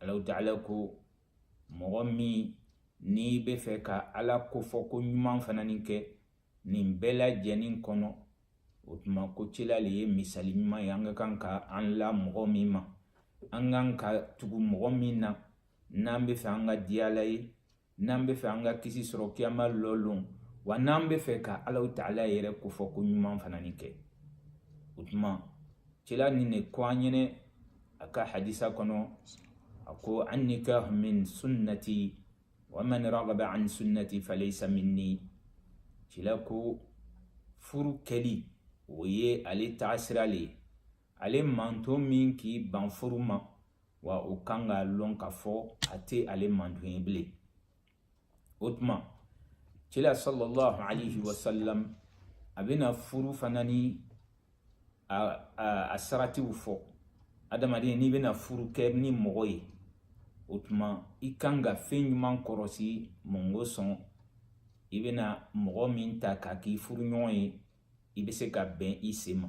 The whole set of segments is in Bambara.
alaw taala ko mɔgɔ min n'i bɛ fɛ ka ala kofɔ ko ɲuman fana ni kɛ nin bɛɛ lajɛlen kɔnɔ o tuma ko cila le ye misali ɲuman ye an ka kan ka an la mɔgɔ min ma an kan ka tugu mɔgɔ min na n'an bɛ fɛ an ka diya ala ye n'an bɛ fɛ an ka kisi sɔrɔ kiyama lɔlon wa n'an bɛ fɛ ka alaw taala yɛrɛ kofɔ ko ɲuman fana ni kɛ o tuma cila nin de ko an ɲɛnɛ a ka hadisa kɔnɔ a ko annikahu min sunnati wa man ragaba an sunnati falaysa minni cila ko furu kɛli o ye ale taasira le ye ale manto min k'i ban furu ma wa o kan k'a lɔn ka fɔ a tɛ ale manto ye bilen o tuma cila sallallahu alaihi wasallam a bɛna furu fana ni a, a, a saratiw fɔ adamaden n'i bɛna furu kɛ ni mɔgɔ ye o tuma i kan ka fɛn ɲuman kɔrɔsi mun kosɔn i bɛna mɔgɔ min ta k'a k'i furuɲɔgɔn ye i bɛ se ka bɛn i sen ma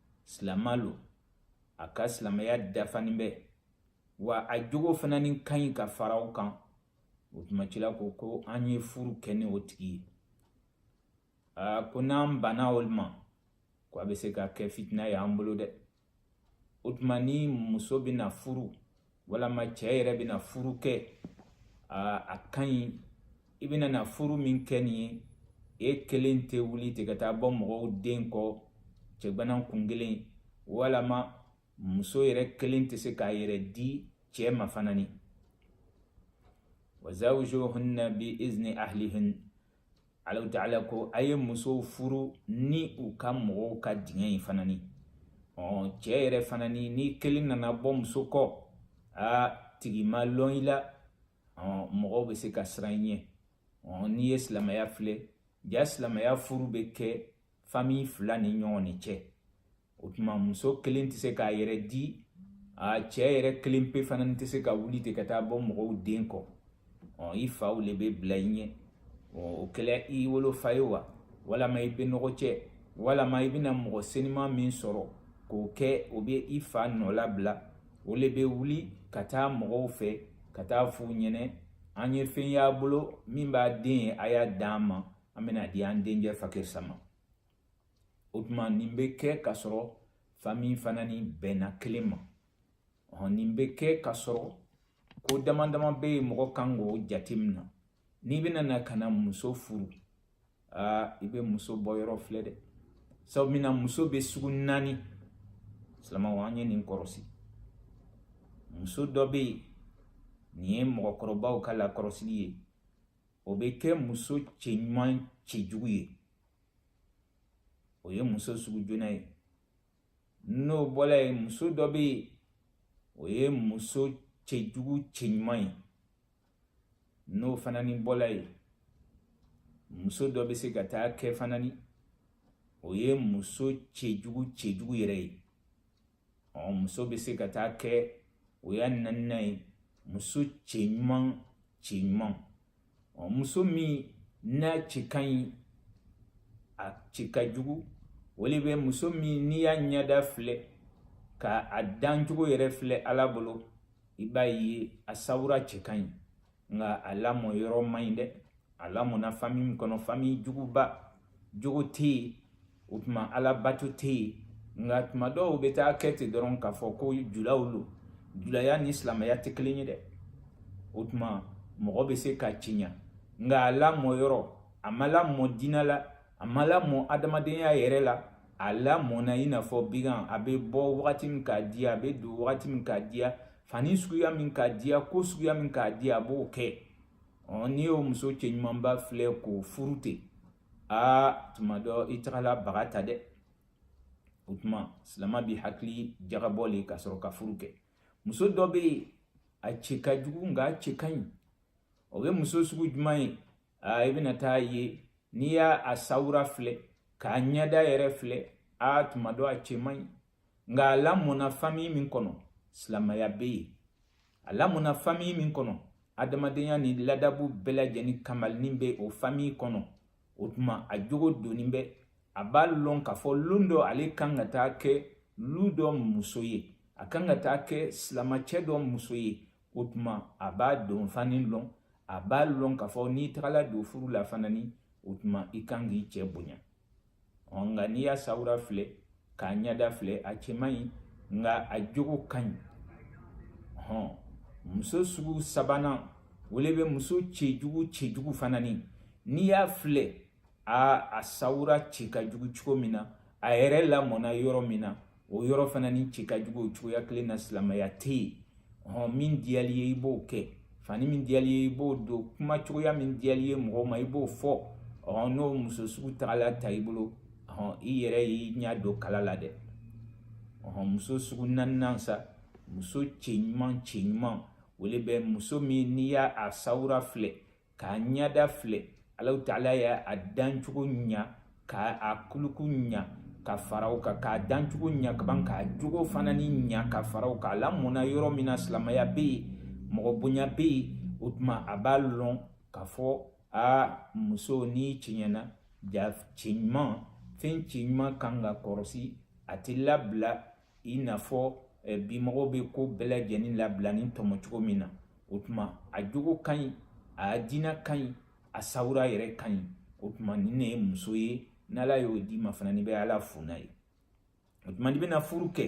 silama lo a ka silamɛya dafanin bɛ wa a jogo fana ni ka ɲi ka fara o kan o tuma cila ko ko an ye furu kɛ ni o tigi ye aa ko n'an banna olu ma ko a bɛ se ka kɛ fitina ye an bolo dɛ o tuma ni muso bɛna furu walama cɛɛ yɛrɛ bɛna furu kɛ a ka ɲi i bɛna na furu min kɛ nin ye e kelen tɛ wuli ten ka taa bɔ mɔgɔw den kɔ cɛgwanan kunkelen walama muso yɛrɛ kelen tɛ se k'a yɛrɛ di cɛɛ ma fana ni wa zawjuhunna bi izni ahlihin alaw taala ko a ye musow furu ni u ka mɔgɔw ka diɲɛ ye fana ni ɔ cɛɛ yɛrɛ fana ni n'i kelen nana bɔ muso kɔ a tigi ma lɔn i la ɔ mɔgɔw bɛ se ka siran i ɲɛ ɔ n'i ye silamɛya filɛ ja silamɛya furu bɛ kɛ famille fila ni ɲɔgɔn ni cɛ o tuma muso kelen tɛ se k'a yɛrɛ di a cɛ yɛrɛ kelen pe fana tɛ se ka wuli ten ka taa bɔ mɔgɔw den kɔ ɔ i faw le bɛ bila i ɲɛ o kɛra i wolofa ye wa walama i bɛnɔgɔcɛ walama i bɛna mɔgɔ seniman min sɔrɔ k'o kɛ o bɛ i fa nɔ labila o le bɛ wuli ka taa mɔgɔw fɛ ka taa f'u ɲɛnɛ an ye fɛn y'a bolo min b'a den ye a y'a d'an ma an bɛna di an dencɛ fakarisa ma o tuma nin bɛ kɛ ka sɔrɔ fami fana ni bɛnna kelen ma nin bɛ kɛ ka sɔrɔ ko dama dama bɛ yen mɔgɔ kan k'o jate minɛ n'i bɛna na ka na muso furu aa i bɛ muso bɔ yɔrɔ filɛ dɛ sabu min na muso bɛ sugu naani silamɛw an ye nin kɔrɔsi muso dɔ bɛ yen nin ye mɔgɔkɔrɔbaw ka lakɔrɔsili ye o bɛ kɛ muso cɛ ɲuman cɛjugu ye o ye muso sugu joona ye n'o bɔla yen muso dɔ bɛ yen o ye muso cɛjugu cɛɲuman ye n'o fana ni bɔla yen muso dɔ bɛ se ka taa kɛ fana ni o ye muso cɛjugu cɛjugu yɛrɛ ye ɔ muso bɛ se ka taa kɛ o y'a naaninan ye muso cɛ ɲuman cɛ ɲuman ɔ muso min n'a cɛ ka ɲi a cɛ ka jugu o le bɛ muso min n'i y'a ɲɛda filɛ ka a dancogo yɛrɛ filɛ ala bolo i b'a ye a sawura cɛ ka ɲi nka a lamɔ yɔrɔ man ɲi dɛ a lamɔna fami min kɔnɔ fami juguba jogo tɛ yen o tuma alabato tɛ yen nka tuma dɔw bɛ taa kɛ ten dɔrɔn k'a fɔ ko julaw lo julaya ni silamɛya tɛ kelen ye dɛ o tuma mɔgɔ bɛ se ka cɛɲa nka a lamɔ yɔrɔ a ma lamɔ diinɛ la a ma lamɔ adamadenya yɛrɛ la a lamɔna i n'a fɔ bigan a bɛ bɔ wagati min k'a diya a bɛ don wagati min k'a diya fani suguya min k'a diya ko suguya min k'a diya a b'o kɛ n'i y'o muso cɛ ɲumanba filɛ k'o furu ten aa tuma dɔ i tagala baga ta dɛ o tuma silama b'i hakili jagabɔ le ka sɔrɔ ka furu kɛ muso dɔ bɛ yen a cɛ ka jugu nka a cɛ ka ɲi o bɛ muso sugu jumɛn ye aa i bɛna t'a ye n'i y'a a sawura filɛ k'a ɲɛda yɛrɛ filɛ aa tuma dɔ a cɛ man ɲi nka a lamɔna famiyi min kɔnɔ silamɛya bɛ yen a lamɔna famiyi min kɔnɔ adamadenya ni ladabu bɛɛ lajɛlen kamalinin bɛ o famiyi kɔnɔ o tuma a jogo donnin bɛ a b'a lɔn k'a fɔ lon dɔ ale kan ka taa kɛ lu dɔ muso ye a kan ka taa kɛ silamacɛ dɔ muso ye o tuma a b'a don fani lɔn a b'a lɔn k'a fɔ n'i tagala don furu la fana ni o tuma i kan k'i cɛ bonya nka n'i y'a sawura filɛ k'a ɲɛda filɛ a cɛ man ɲi nka a jogo ka ɲi hɔn muso sugu sabanan o le bɛ muso cɛjugu cɛjugu fana ni n'i y'a filɛ a a sawura cɛ ka jugu cogo min na a yɛrɛ lamɔna yɔrɔ min na o yɔrɔ fana ni cɛ ka jugu o cogoya kelen na silamɛya tɛ yen hɔn min diyal'i ye i b'o kɛ fani min diyal'i ye i b'o don kuma cogoya min diyal'i ye mɔgɔ ma i b'o fɔ ɔn n'o muso sugu tagala ta i bolo ɔn i yɛrɛ y'i ɲɛ don kala la dɛ ɔn muso sugu naaninan sa muso cɛ ɲuman cɛ ɲuman o le bɛ muso min n'i y'a sawura filɛ k'a ɲɛda filɛ alahu taala y'a dancogo ɲa k'a kuluku ɲa ka fara o kan k'a dancogo ɲa ka ban k'a jogo fana ni ɲa ka fara o kan a lamɔna yɔrɔ min na silamaya bɛ yen mɔgɔ bonya bɛ yen o tuma a b'a lɔn k'a fɔ a muso n'i cɛɲana ja cɛ ɲuman fɛn cɛ ɲuman kan ka kɔrɔsi a tɛ labila i n'a fɔ eh, bimɔgɔw bɛ ko bɛɛ lajɛlen labila ni tɔmɔ cogo min na o tuma a jogo ka ɲi a diina ka ɲi a sawura yɛrɛ ka ɲi o tuma nin ne ye muso ye n'ala y'o d'i ma fana n'i bɛ ala fo n'a ye o tuma n'i bɛna furu kɛ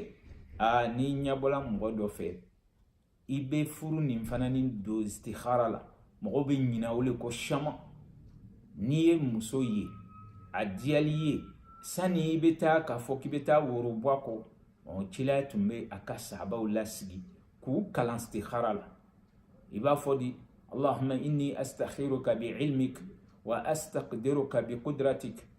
aa n'i ɲɛbɔla mɔgɔ dɔ fɛ i bɛ furu nin fana ni don istihara la mɔgɔ bɛ ɲina o le kɔ siyaman n'i ye muso ye a diyal'i ye sani i bɛ taa k'a fɔ k'i bɛ taa woro bɔ a kɔ ɔ cila tun bɛ a ka sahabaw lasigi k'u kalan istihara la i b'a fɔ di allahumma inni astakhiruka bi ilmik wa astaqdiruka bi qudratik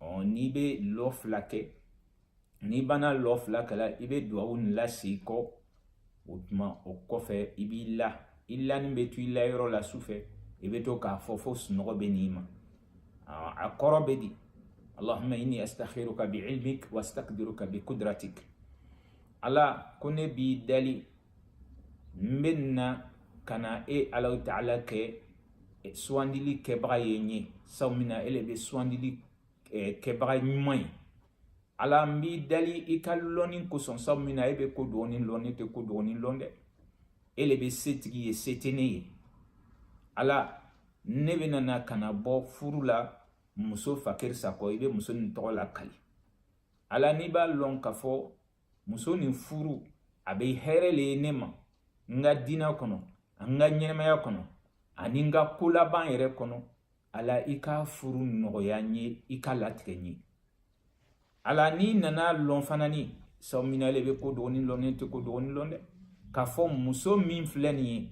ɔ n'i bɛ lɔ fila kɛ n'i banna lɔ fila kɛla i bɛ duwawu nin lase kɔ o tuma o kɔfɛ i b'i la i lanin bɛ to i layɔrɔ la sufɛ i bɛ to k'a fɔ fo sunɔgɔ bɛ n'i ma a kɔrɔ bɛ di allahumma inni astakhiruka bi ilmik wa astakdiruka bi kudratik ala ko ne b'i dali n bɛ na ka na e alahu taala kɛ sugandili kɛbaga ye n ye sabu min na e le bɛ sugandili kɛbaga ɲuman ye ala n b'i dali i ka lɔnni kosɔn sabu min na e bɛ ko dogonin lɔn ne tɛ ko dogonin lɔn dɛ e le bɛ setigi ye se tɛ ne ye ala ne bɛna na ka na bɔ furu la muso fakiri sakɔ i bɛ muso nin tɔgɔ lakali ala n'i b'a lɔn k'a fɔ muso nin furu a bɛ hɛrɛ le ye ne ma n ka diinɛ kɔnɔ n ka ɲɛnɛmaya kɔnɔ ani n ka kolaban yɛrɛ kɔnɔ ala i ka furu nɔgɔya n ye i k'a latigɛ n ye ala n'i nan'a lɔn fana ni sabu min na e le bɛ ko dogonin lɔn ne tɛ ko dogonin lɔn dɛ k'a fɔ muso min filɛ nin ye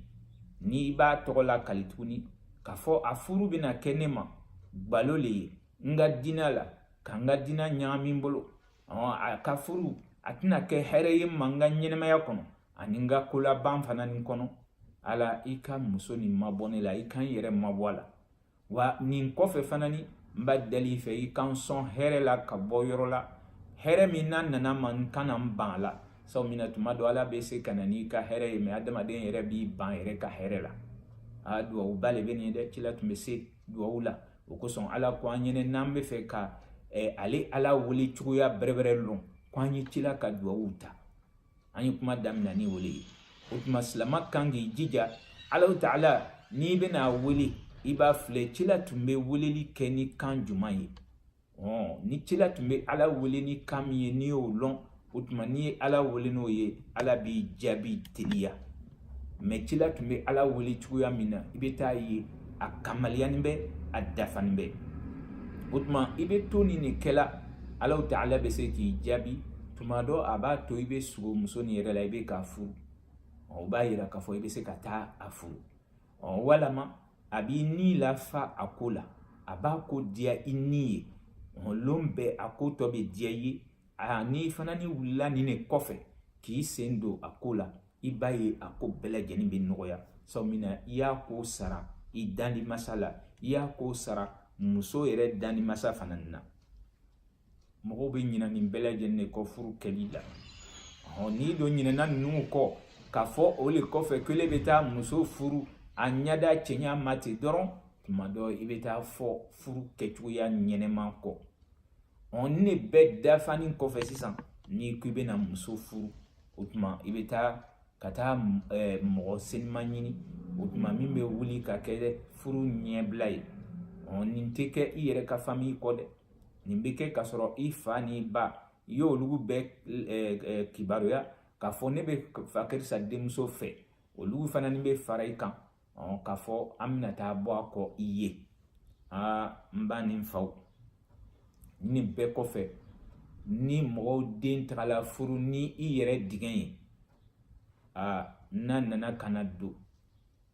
n'i b'a tɔgɔ lakali tuguni k'a fɔ a furu bɛna kɛ ne ma gbalo le ye n ka diinɛ la ka n ka diinɛ ɲagami n bolo a ka furu a tɛna kɛ hɛrɛ ye ma n ka ɲɛnɛmaya kɔnɔ ani n ka kolaban fana nin kɔnɔ ala i ka muso nin mabɔ ne la i ka n yɛrɛ mabɔ a la wa nin kɔfɛ fana ni n b'a dali i fɛ i ka n sɔn hɛrɛ la ka bɔ yɔrɔ la hɛrɛ min n'a nana ma n kana n ban a la sabu min na tuma dɔ ala bɛ se ka na n'i ka hɛrɛ ye mɛ adamaden yɛrɛ b'i ban yɛrɛ ka hɛrɛ la a duwawuba le bɛ nin ye dɛ cila tun bɛ se duwawu la o kosɔn ala ko an ɲɛnɛ n'an bɛ fɛ ka eh, ale ala wele cogoya bɛrɛbɛrɛ lɔn ko an ye cila ka duwawu ta an ye kuma damina ni o le ye o tuma silama kan k'i jija alahu taala n'i bɛna a wele i b'a filɛ cila tun bɛ weleli kɛ ni kan juman ye ɔ ni cila tun bɛ ala wele ni kan min ye n'i y'o lɔn o tuma n'i ye ala wele n'o ye ala b'i jaabi teliya mɛ cila tun bɛ ala wele cogoya min na i bɛ taa a ye a kamaliyanin bɛ a dafanin bɛ o tuma i bɛ to nin de kɛla alahu taala bɛ se k'i jaabi tuma dɔ a b'a to i bɛ sugo muso nin yɛrɛ la i bɛ k'a furu o b'a yira k'a fɔ i bɛ se ka taa a furu ɔ walama a b'i ni lafa a ko la a b'a ko diya i ni ye ɔ lon bɛɛ a ko tɔ bɛ diya i ye a n'i fana ni wulila nin de kɔfɛ k'i sen don a ko la i b'a ye a ko bɛɛ lajɛlen bɛ nɔgɔya sabu min na i y'a ko sara i dandi masa la i y'a ko sara muso yɛrɛ dandi masa fana na mɔgɔw bɛ ɲinɛ nin bɛɛ lajɛlen de kɔ furu kɛli la n'i don ɲinɛna ninnu kɔ k'a fɔ o le kɔfɛ ko ne bɛ taa muso furu a ɲɛda cɛɲa ma ten dɔrɔn tuma dɔ i bɛ taa fɔ furu kɛcogoya ɲɛnɛma kɔ ɔ nin ne bɛɛ dafani kɔfɛ sisan n'i ko i bɛna muso furu o tuma i bɛ taa ka taa ɛɛ mɔgɔ senima ɲini o tuma min bɛ wuli ka kɛ furu ɲɛbila ye ɔ nin tɛ kɛ i yɛrɛ ka famiyi kɔ dɛ nin bɛ kɛ k'a sɔrɔ i fa n'i ba i y'olu bɛɛ eh, eh, kibaruya k'a fɔ ne bɛ fa karisa denmuso fɛ olu fana ni bɛ fara i kan k'a fɔ an bɛna taa bɔ a kɔ i ye aa n ba ni n faw nin bɛɛ kɔfɛ ni mɔgɔw den tagala furu ni i yɛrɛ diɲɛ ye aa n'a nana ka na don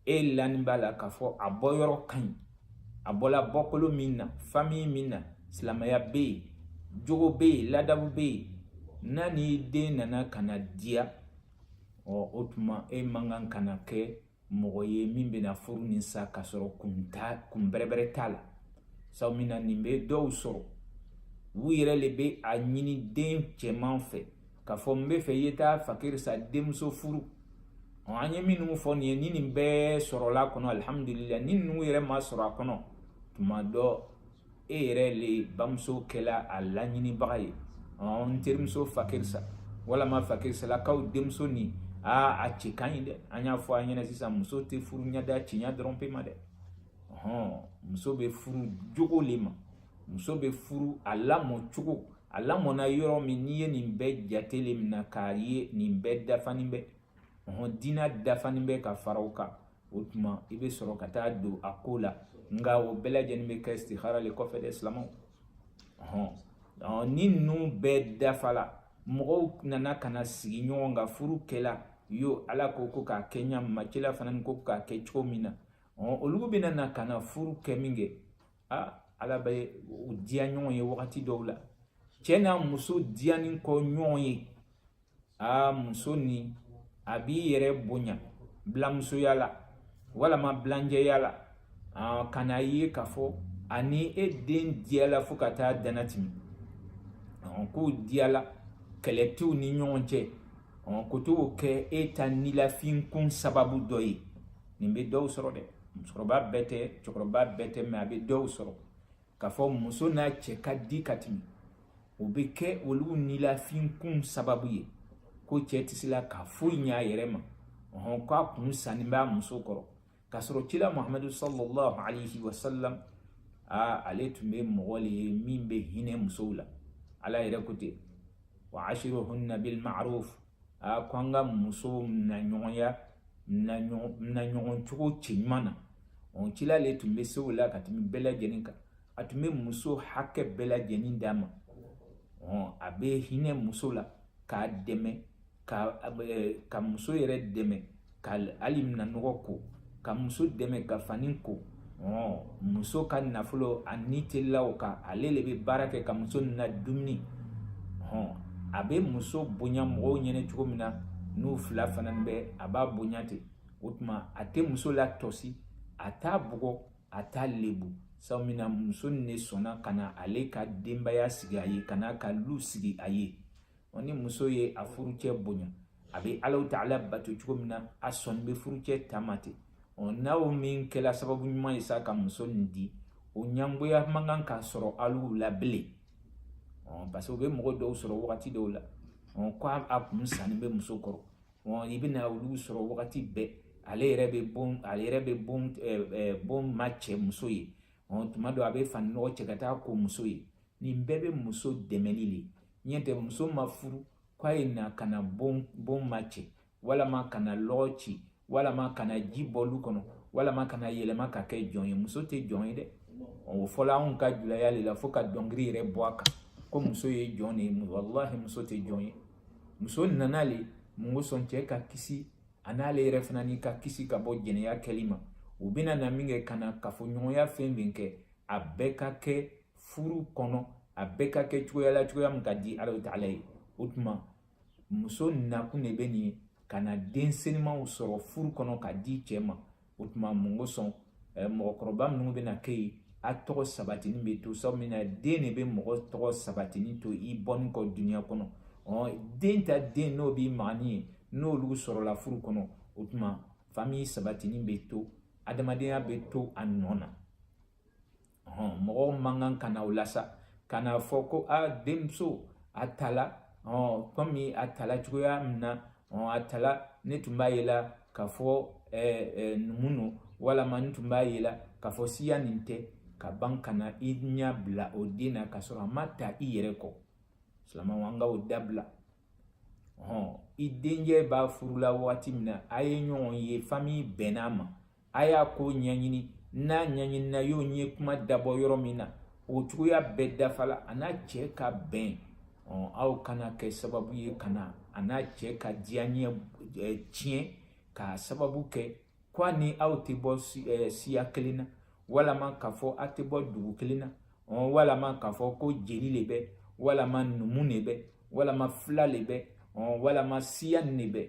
e lani b'a la k'a fɔ a bɔyɔrɔ ka ɲi a bɔla bɔkolo min na famiyi min na silamɛya bɛ yen jogo bɛ yen ladabu bɛ yen n'a n'i den nana ka na diya ɔ o tuma e man kan ka na kɛ mɔgɔ ye min bɛna furu nin sa k'a sɔrɔ kun t'a kun bɛrɛbɛrɛ t'a la sabu min na nin bɛ dɔw sɔrɔ u yɛrɛ le bɛ a ɲini den cɛman fɛ K'a fɔ n bɛ fɛ i ye taa fakirisa denmuso furu an ye minnu fɔ nin ye ni nin bɛɛ sɔrɔla a kɔnɔ alihamudulila ni ninnu yɛrɛ ma sɔrɔ a kɔnɔ tuma dɔ e yɛrɛ le bamuso kɛla a laɲinibaga ye n terimuso fakirisa walama fakirisalakaw denmuso nin aa a cɛ ka ɲi dɛ an y'a fɔ a ɲɛna sisan muso tɛ furu ɲɛda cɛɲa dɔrɔn pe ma dɛ muso bɛ furu jogo le ma muso bɛ furu a lamɔ cogo a lamɔna yɔrɔ min n'i ye nin bɛɛ jate le minɛ k'a ye nin bɛɛ dafani bɛ ɔhɔn diina dafani bɛ ka fara o kan o tuma i bɛ sɔrɔ ka taa don a ko la nka o bɛɛ lajɛlen bɛ kɛ istihara le kɔfɛ dɛ silamɛw ɔhɔn ni ninnu bɛɛ dafala mɔgɔw nana ka na sigi ɲɔgɔn kan furu kɛla yo ala ko ko k'a kɛ ɲa ma cila fana ko k'a kɛ cogo min na ɔhɔn olu bɛna na ka na furu kɛ min kɛ a ala bɛ u diya ɲɔgɔn ye wagati dɔw la cɛ n'a muso diyanin kɔ ɲɔgɔn ye a muso ni a b'i yɛrɛ bonya bilanmusoya la walama bilanjɛya la ka na ye k'a fɔ ani e den diyala fo ka taa dan natɛmɛ k'u diyala kɛlɛ t'u ni ɲɔgɔn cɛ ko to kɛ e ta nilafinkun sababu dɔ ye nin bɛ dɔw sɔrɔ dɛ musokɔrɔba bɛɛ tɛ cɛkɔrɔba bɛɛ tɛ mɛ a bɛ dɔw sɔrɔ k'a fɔ muso n'a cɛ ka di ka tɛmɛ o bɛ kɛ olu nilafinkun sababu ye ko cɛ tɛ se la ka foyi ɲɛ a yɛrɛ ma ɔhɔn k'a kun sanni b'a muso kɔrɔ k'a sɔrɔ cila muhamadu sallallahu alayhi wa sallam aa ale tun bɛ mɔgɔ le ye min bɛ hinɛ musow la ala yɛrɛ ko ten wa ashiruhunna bil ma'ruf a ko an ka musow naɲɔgɔnya naɲɔgɔn cogo cɛɲuman na o cila le tun bɛ se o la ka tɛmɛ bɛɛ lajɛlen kan a tun bɛ muso hakɛ bɛɛ lajɛlen d'a ma a bɛ hinɛ muso la k'a dɛmɛ ka ka muso yɛrɛ dɛmɛ ka hali minan nɔgɔ ko ka muso dɛmɛ ka fani ko muso ka nafolo a ni telila o kan ale le bɛ baara kɛ ka muso nadumuni a bɛ muso bonya mɔgɔw ɲɛna cogo min na n'u fila fana bɛ a b'a bonya ten o tuma a tɛ muso la tɔsi a t'a bugɔ a t'a lebu sabu min na muso nin ne sɔnna ka na ale ka denbaya sigi a ye ka n'a ka lu sigi a ye ɔ ni muso ye a furucɛ bonya a bɛ alahu ta'ala bato cogo min na a sɔnni bɛ furucɛ ta ma ten ɔ n'aw min kɛra sababu ɲuman ye sa ka muso nin di o ɲangoya man kan ka sɔrɔ alu la bilen ɔ parce que u bɛ mɔgɔ dɔw sɔrɔ wagati dɔw la ɔ ko a kun sanni bɛ muso kɔrɔ ɔ i bɛna olu sɔrɔ wagati bɛɛ ale yɛrɛ bɛ bon ale yɛrɛ bɛ bon ɛɛ bon macɛ muso ye ɔ tuma dɔ a bɛ fani nɔgɔ cɛ ka taa ko muso ye nin bɛɛ bɛ muso dɛmɛli le ɲɛ tɛ muso ma furu k'a ye na ka na bon ma cɛ walama ka na lɔgɔ ci walama ka na ji bɔ lu kɔnɔ walama ka na yɛlɛma ka kɛ jɔn ye muso tɛ jɔn ye dɛ o fɔla anw ka julaya le la fo ka dɔnkili yɛrɛ bɔ a kan ko muso ye jɔn de ye walahi muso tɛ jɔn ye muso nana le mun kosɔn cɛ ka kisi an'ale yɛrɛ fana ni ka kisi ka bɔ jɛnɛya kɛli ma u bɛna na min kɛ ka na kafoɲɔgɔnya fɛn min kɛ a bɛɛ ka kɛ furu kɔnɔ a bɛɛ ka kɛ cogoya la cogoya min ka di ala taala ye o tuma muso nakun de bɛ nin ka na den senimanw sɔrɔ furu kɔnɔ ka di cɛ ma o tuma mun kosɔn eh, mɔgɔkɔrɔba minnu bɛna kɛ yen a tɔgɔ sabatini bɛ to sabu min na den de bɛ mɔgɔ tɔgɔ sabatini to i bɔni kɔ dunuya kɔnɔ ɔ den ta den n'o b'i magani ye n'olu sɔrɔla furu kɔnɔ o tuma fami sabatini bɛ to adamadenya bɛ to a nɔ na ɔhɔn mɔgɔw man kan ka na o la sa ka na fɔ ko a denmuso a tala ɔn kɔmi a tala cogoya min na ɔn a tala ne tun b'a ye la k'a fɔ ɛɛ ɛɛ numu no walama n tun b'a ye la k'a fɔ siya nin tɛ ka ban ka na i ɲɛ bila o den na k'a sɔrɔ a ma ta i yɛrɛ kɔ silamɛw an ka o dabila ɔn i denkɛ b'a furula waati min na a ye ɲɔgɔn ye fami bɛnn'a ma a y'a ko ɲɛɲini n'a ɲɛɲinina y'o ye kuma dabɔ yɔrɔ min na o cogoya bɛɛ dafala a n'a cɛ ka bɛn aw kana kɛ sababu ye ka na a n'a cɛ ka diyaɲɛ tiɲɛ k'a sababu kɛ ko a ni aw tɛ bɔ siya kelen na walama k'a fɔ a tɛ bɔ dugu kelen na walama k'a fɔ ko jeli le bɛ walama numu le bɛ walama fila le bɛ walama siya nin le bɛ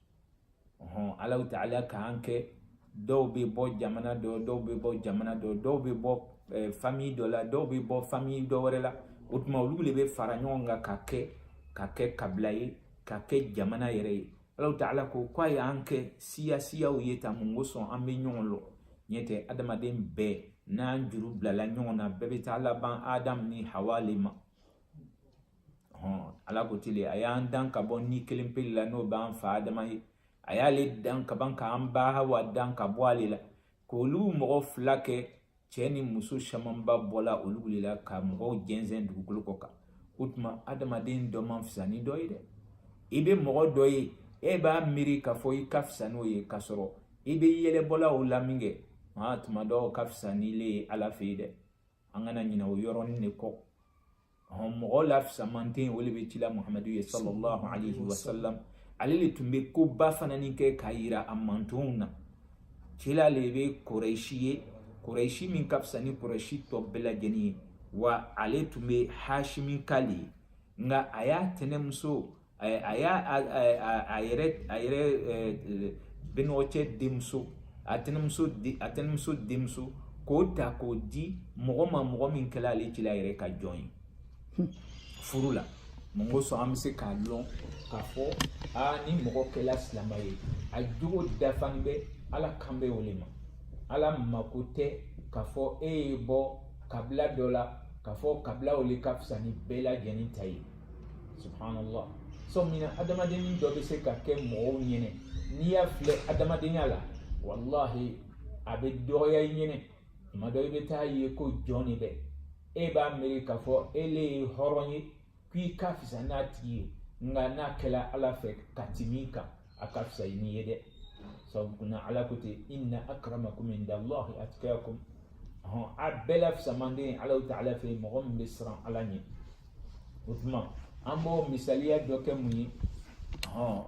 ɔhɔn alahu taala k'an kɛ dɔw bɛ bɔ jamana dɔ dɔw bɛ bɔ jamana dɔ dɔw bɛ bɔ ɛɛ eh, famiyi dɔ la dɔw bɛ bɔ famiyi dɔ wɛrɛ la o tuma olu le bɛ fara ɲɔgɔn kan ka kɛ ka kɛ kabila ye ka kɛ jamana yɛrɛ ye alahu taala ko k'a y'an kɛ siya siyaw ye tan mun kosɔn an bɛ ɲɔgɔn lɔn ɲɛ tɛ adamaden bɛɛ n'an juru bilala ɲɔgɔn na bɛɛ bɛ taa laban adamu ni hawa le ma ala ko di le a y'an dan ka bɔ ni kelen pe le la n'o b'an fa adama ye a y'ale dan ka ban k'an ba hawa dan ka bɔ ale la k'olu mɔgɔ fila kɛ cɛ ni muso camanba bɔla olu le la ka mɔgɔw jɛnsɛn dugukolo kɔ kan o tuma adamaden dɔ man fisa ni dɔ ye dɛ i bɛ mɔgɔ dɔ ye e b'a miiri k'a fɔ i ka fisa n'o ye k'a sɔrɔ i bɛ yɛlɛbɔla o la minkɛ maa tuma dɔ o ka fisa n'ile ye ala fɛ yen dɛ an kana ɲinɛ o yɔrɔnin de kɔ mɔgɔ la fisamanten o de bɛ cila muhamadu ye sallallahu alaihi wasallam ale le tun bɛ koba fana ni kɛ k'a yira a mantonw na cila le bɛ kurɛsi ye kurɛsi min ka fisa ni kurɛsi tɔ bɛɛ lajɛlen ye wa ale tun bɛ hashimi ka le ye nka a y'a tɛnɛmuso a a y'a a a a- a yɛrɛ a yɛrɛ eh, eh, bɛnɔgɔcɛ denmuso a tɛnɛmuso de- a tɛnɛmuso denmuso k'o ta k'o di mɔgɔ ma mɔgɔ min kɛla ale cila yɛrɛ ka jɔn ye furu la mun kosɔn an bɛ se k'a lɔn k'a fɔ aa ni mɔgɔ kɛla silama ye a jogo dafalen bɛ ala kan bɛ o le ma ala mako tɛ k'a fɔ e ye bɔ kabila dɔ la k'a fɔ kabila o le ka fisa ni bɛɛ lajɛlen ta ye subhanallah sabu min na adamadennin dɔ bɛ se ka kɛ mɔgɔw ɲɛnɛ n'i y'a filɛ adamadenya la walahi a bɛ dɔgɔya i ɲɛnɛ tuma dɔ i bɛ t'a ye ko jɔn de bɛ e b'a miiri k'a fɔ e le ye hɔrɔn ye k'i ka fisa n'a tigi ye nka n'a kɛla ala fɛ ka tɛmɛ i kan a ka fisa i n'i ye dɛ sabu kunna ala ko ten inna akramakum inda allahi atqakum hɔn a bɛɛ la fisamanden ala ta'ala fɛ mɔgɔ min bɛ siran ala ɲɛ o tuma an b'o misaliya dɔ kɛ mun ye hɔn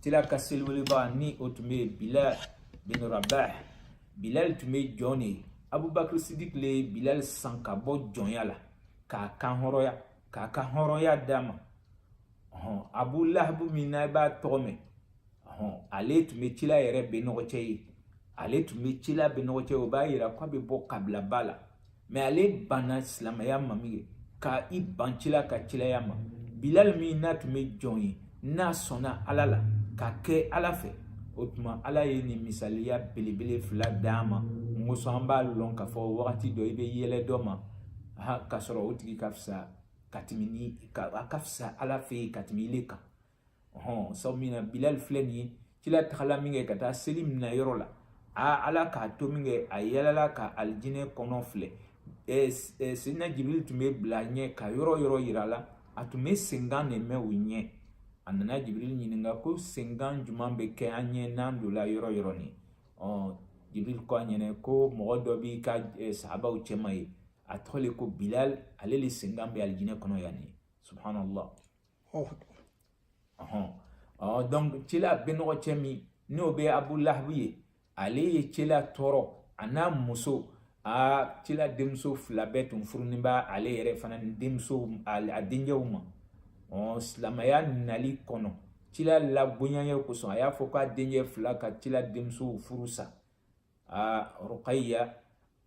cila ka seliweleba ni o tun bɛ yen bilal bin rabah bilal tun bɛ jɔn de ye abubakar sidik le ye bilal san ka bɔ jɔnya la k'a kanhɔrɔnya k'a ka hɔrɔnya d'a ma hɔn abu lahabu min n'a b'a tɔgɔ mɛn hɔn ale tun bɛ cila yɛrɛ bɛnɔgɔcɛ ye ale tun bɛ cila bɛnɔgɔcɛ ye o b'a yira k'a bɛ bɔ kabilaba la mais ale banna silamɛya ma min kɛ ka i ban cila ka cilaya ma bilali min n'a tun bɛ jɔn ye n'a sɔnna ala la ka kɛ ala fɛ o tuma ala ye nin misaliya belebele fila d'an ma mun kosɔn an b'a lɔn k'a fɔ wagati dɔ i bɛ yɛlɛ dɔ ma ka sɔrɔ o tigi ka fisa ka tɛmɛ ni ka a ka fisa ala fɛ yen ka tɛmɛ ile kan ɔhɔn sabu min na bilali filɛ nin ye cila tagala min kɛ ka taa seli minɛ yɔrɔ la a ala k'a to min kɛ a yɛlɛla ka alijinɛ kɔnɔ filɛ ɛɛ sidina jibiri tun bɛ bila ɲɛ ka yɔrɔ yɔrɔ yira a la a tun bɛ senkan de mɛn o ɲɛ a nana jibiri ɲininka ko senkan jumɛn bɛ kɛ an ɲɛ n'an donla yɔrɔ yɔrɔ nin ɔ jibiri ko a ɲɛna ko mɔgɔ dɔ b'i ka sahabaw cɛma yen a tɔgɔ le ko bilal ale le senkan bɛ alijinɛ kɔnɔ yan nin subhanallah ɔhɔn ɔ donc cila bɛnɔgɔcɛ min n'o bɛ abu lahabu ye ale ye cila tɔɔrɔ a n'a muso a cila denmuso fila bɛɛ tun furunin b'a ale yɛrɛ fana ni denmuso a denkɛw ma ɔ silamɛya nali kɔnɔ cila labonyanya kosɔn a y'a fɔ k'a denkɛ fila ka cila denmusow furu sa a rukaya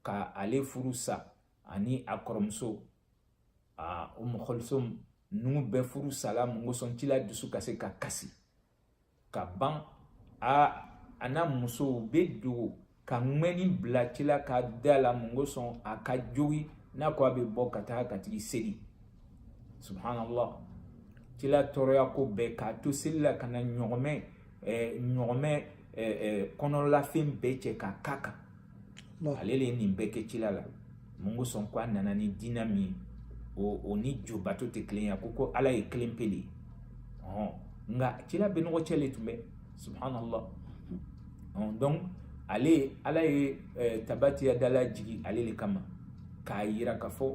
ka ale furu sa ani a kɔrɔmuso aa umu kulsum ninnu bɛɛ furu sala mun kosɔn cila dusu ka se ka kasi ka ban a a n'a musow bɛ dogo ka ŋɛni bila cila ka da la mun kosɔn a ka jogi n'a ko a bɛ bɔ ka taa ka tigi seli subhanallah cila tɔɔrɔya ko bɛɛ k'a to seli la ka na ɲɔgɔmɛ eh, ɲɔgɔmɛ eh, eh, kɔnɔlafɛn bɛɛ cɛ k'a k'a kan ale le ye nin bɛɛ kɛ cila la mun kosɔn ko a nana ni diinɛ min ye o o ni jo bato tɛ kelen ye ko ko ala ye kelen pe le ye ɔn nka cila bɛnɔgɔcɛ le tun bɛ subhanallah ɔn donc ale ala ye tabati yada lajigi ale le kama k'a yira ka fɔ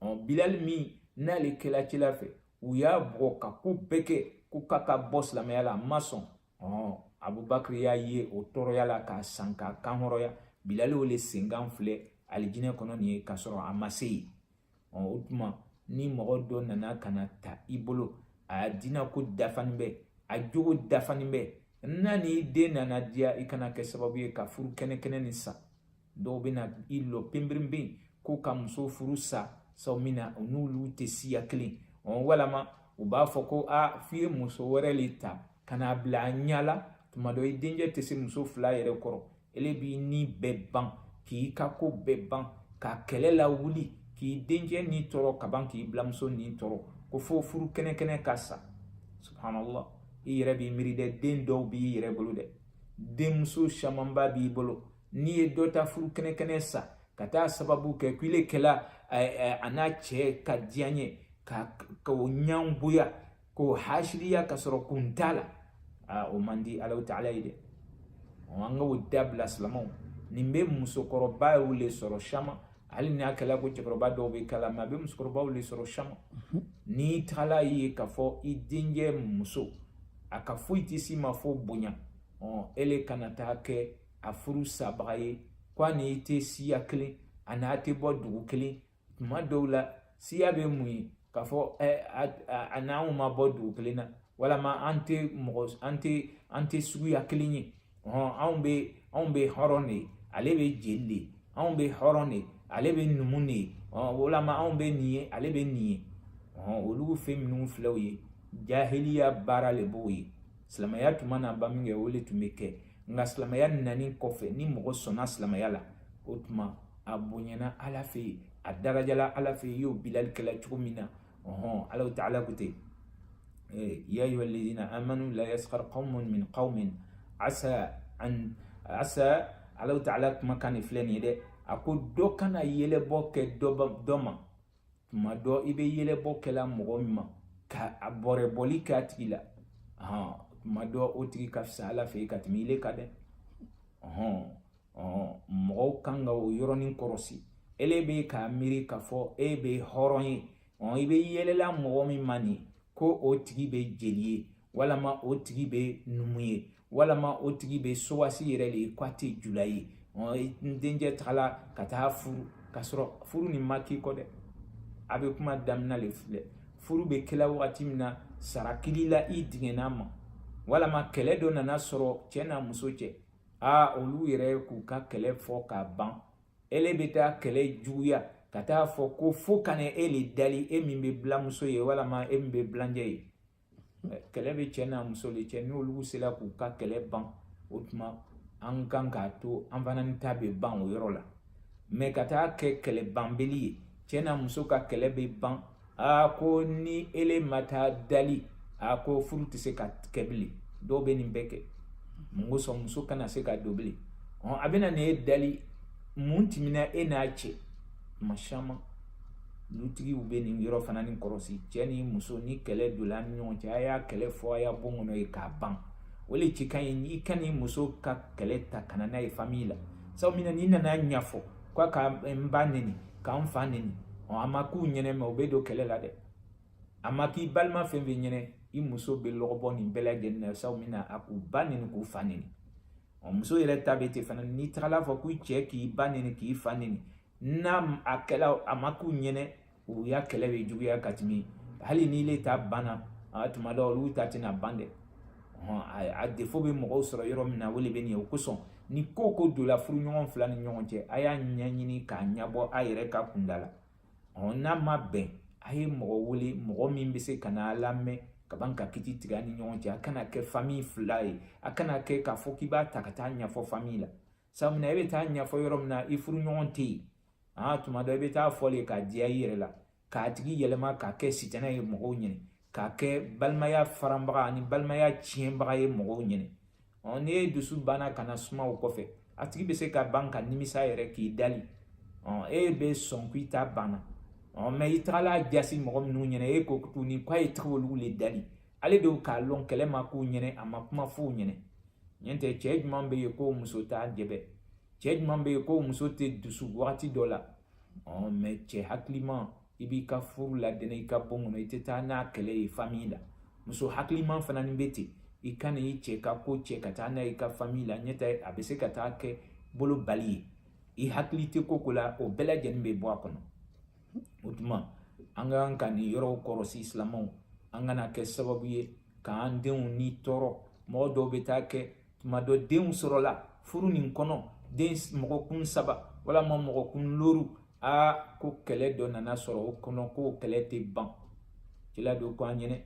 ɔn bilali min n'ale kɛla cila fɛ u y'a bugɔ ka ko bɛɛ kɛ ko k'a ka bɔ silamɛya la a ma sɔn ɔn abubakari y'a ye o tɔɔrɔya la k'a san k'a kanhɔrɔnya bilali o le senkan filɛ alijinɛ kɔnɔ nin ye k'a sɔrɔ a ma se yen ɔn o tuma ni mɔgɔ dɔ nana ka na ta i bolo a dina ko dafanin bɛ a jogo dafanin bɛ n'a n'i den nana diya i kana kɛ sababu ye ka furu kɛnɛ kɛnɛ nin sa dɔw bɛ na i lɔ penperenpen ko ka muso furu sa sabu min na u n'olu tɛ siya kelen walama u b'a fɔ ko a f'i ye muso wɛrɛ le ta ka n'a bila a ɲɛ la tuma dɔ i denkɛ tɛ se muso fila yɛrɛ kɔrɔ ele b'i ni bɛɛ ban k'i ka ko bɛɛ ban ka kɛlɛ lawuli k'i denkɛ ni tɔɔrɔ ka ban k'i biranmuso ni tɔɔrɔ ko fo furu kɛnɛkɛnɛ ka sa subhanallah i yɛrɛ b'i miiri dɛ den dɔw b'i yɛrɛ bolo dɛ denmuso camanba b'i bolo n'i ye dɔ ta furu kɛnɛkɛnɛ sa ka taa sababu kɛ ko ile kɛla a n'a cɛ ka diyanye k'o ɲangoya k'o hasidiya ka sɔrɔ kun t'a la aa o man di alahu taala ye dɛ an ka o dabila silamaw nin bɛ musokɔrɔbaw le sɔrɔ caman hali n'a kɛla ko cɛkɔrɔba dɔw bɛ k'a la mɛ a bɛ musokɔrɔbaw le sɔrɔ caman n'i taala ye k'a fɔ i denkɛ muso a ka foyi tɛ s'i ma fo bonya ɔ ele kana taa kɛ a furu sabaga ye ko a n'i tɛ siya kelen a n'a tɛ bɔ dugu kelen tuma dɔw la siya bɛ mun ye k'a fɔ a n'anw ma bɔ dugu kelen na walama an tɛ mɔgɔ an tɛ an tɛ suguya kelen ye hɔn anw bɛ anw bɛ hɔrɔn de ye ale bɛ jeli de ye anw bɛ hɔrɔn de ye ale bɛ numu de ye hɔn walama anw bɛ nin ye ale bɛ nin ye hɔn olu fɛn minnu filɛ o ye jahiliya baara le b'o ye silamɛya tun ma na ban min kɛ o le tun bɛ kɛ nka silamɛya nani kɔfɛ ni mɔgɔ sɔnna silamɛya la o tuma a bonyana ala fɛ yen a darajala ala fɛ yen iyo bilali kɛla cogo min na ɔhɔn ala ta'ala ko ten ya ayuha alladina amanu la yaskhar qaumun min qaumin asa an asa ala ta'ala kumakan de filɛ nin ye dɛ a ko dɔ kana yɛlɛbɔ kɛ dɔ ma tuma dɔ i bɛ yɛlɛbɔ kɛla mɔgɔ min ma ka a bɔrɛbɔli kɛ a tigi la tuma dɔ o tigi ka fisa ala fɛ yen ka tɛmɛ ile kan dɛ mɔgɔw kan ka o yɔrɔnin kɔrɔsi ele bɛ k'a miiri k'a fɔ e bɛ hɔrɔn ye i bɛ yɛlɛla mɔgɔ min ma nin ko o tigi bɛ jeli ye walama o tigi bɛ numu ye walama o tigi bɛ sowasi yɛrɛ le ye k'a tɛ jula ye n denkɛ tagala ka taa furu ka sɔrɔ furu nin ma k'i kɔ dɛ a bɛ kuma daminɛ le filɛ furu bɛ kɛla wagati min na sara kɛl'i la i digɛn'a ma walama kɛlɛ dɔ nana sɔrɔ cɛ n'a muso cɛ aa olu yɛrɛ k'u ka kɛlɛ fɔ k'a ban ele bɛ taa kɛlɛ juguya ka taa fɔ ko fo ka na e le dali e min bɛ bilamuso ye walama e min bɛ bilancɛ ye kɛlɛ bɛ cɛ n'a muso le cɛ n'olu sera k'u ka kɛlɛ ban o tuma an kan k'a to an fana ni ta bɛ ban o yɔrɔ la mɛ ka taa kɛ kɛlɛ banbeli ye cɛ n'a muso ka kɛlɛ bɛ ban aa ko ni ele ma taa dali a ko furu tɛ se ka kɛ bilen dɔw bɛ nin bɛɛ kɛ mun kosɔn muso kana se ka don bilen a bɛna nin ye dali mun tɛmɛna e n'a cɛ tuma caman lutigiw bɛ nin yɔrɔ fana ni kɔrɔsi cɛ ni muso ni kɛlɛ donna ni ɲɔgɔn cɛ a y'a kɛlɛ fɔ a ya bon kɔnɔ yen k'a ban o le cɛ ka ɲi n'i ka ni muso ka kɛlɛ ta ka na n'a ye fami la sabu min na n'i nana ɲɛfɔ k'a ka n ba neni ka n fa neni ɔ a ma k'u ɲɛnɛ mɛ u bɛ don kɛlɛ la dɛ a ma k'i balima fɛn fɛn ɲɛnɛ i muso bɛ lɔgɔbɔ nin bɛɛ lajɛlen na sabu min na a k'u ba neni k'u fa neni ɔ muso yɛrɛ ta bɛ ten fana n'i tagala fɔ k'i cɛ k'i ba neni k'i fa neni n'a a kɛla a ma k'u ɲɛnɛ u ya kɛlɛ bɛ juguya ka tɛmɛ hali n'ile ta banna a tuma dɔ olu ta tɛna ban dɛ a defo bɛ mɔgɔw sɔrɔ yɔrɔ min na o de bɛ nin ye o kosɔn ni ko ko donla furuɲɔgɔn fila ni ɲɔgɔn cɛ a y'a ɲɛɲini k'a ɲɛbɔ a yɛrɛ ka kunda la n'a ma bɛn a ye mɔgɔ wele mɔgɔ min bɛ se ka na lamɛn ka ban ka kiti tigɛ a ni ɲɔgɔn cɛ a kana kɛ fami fila ye a kana kɛ k'a fɔ k'i b'a ta ka taa ɲɛfɔ fami la sabu na e bɛ taa ɲɛfɔ yɔrɔ min na i furuɲɔgɔn tɛ yen aa tuma dɔ i bɛ taa fɔ le k'a diya i yɛrɛ la k'a tigi yɛlɛma k'a kɛ sitanɛ ye mɔgɔw ɲɛnɛ k'a kɛ balimaya faranbaga ani balimaya tiɲɛbaga ye mɔgɔw ɲɛnɛ ɔ ni e dusu banna ka na suma o kɔfɛ a tigi bɛ se ka ban ka nimisa yɛrɛ k'i dali ɔ e bɛ sɔn k'i ta banna ɔ mɛ i tagala jasi mɔgɔ minnu ɲɛna e ko tuguni k'a ye tigi olu le dali ale de k'a lɔn kɛlɛ ma k'u ɲɛnɛ a ma kuma f'u ɲɛnɛ ɲɛ tɛ cɛɛ juman be ye ko muso t'a jɛbɛ cɛɛ juman be ye ko muso tɛ dusu wagati dɔ la ɔn mɛ cɛɛ hakiliman i b'i ka furu ladɛnɛ i ka bon kɔnɔ i tɛ taa n'a kɛlɛ ye famiyi la muso hakiliman fana ni be ten i kana i cɛɛ ka ko cɛ ka taa n'a ye i ka famiyi la ɲɛ tɛ a be se ka taa kɛ bolo bali ye i hakili tɛ ko ko la o bɛɛ lajɛnin be bɔ a kɔnɔ o tuma an ka kan ka nin yɔrɔw kɔrɔsi silamɛw an kana kɛ sababu ye k'an denw ni tɔɔrɔ mɔgɔ dɔw bɛ taa kɛ tuma dɔ denw sɔrɔla furu nin kɔnɔ den mɔgɔkun saba walama mɔgɔkun loru aa ko kɛlɛ dɔ nana sɔrɔ o kɔnɔ k'o kɛlɛ tɛ ban kila don ko an ɲɛnɛ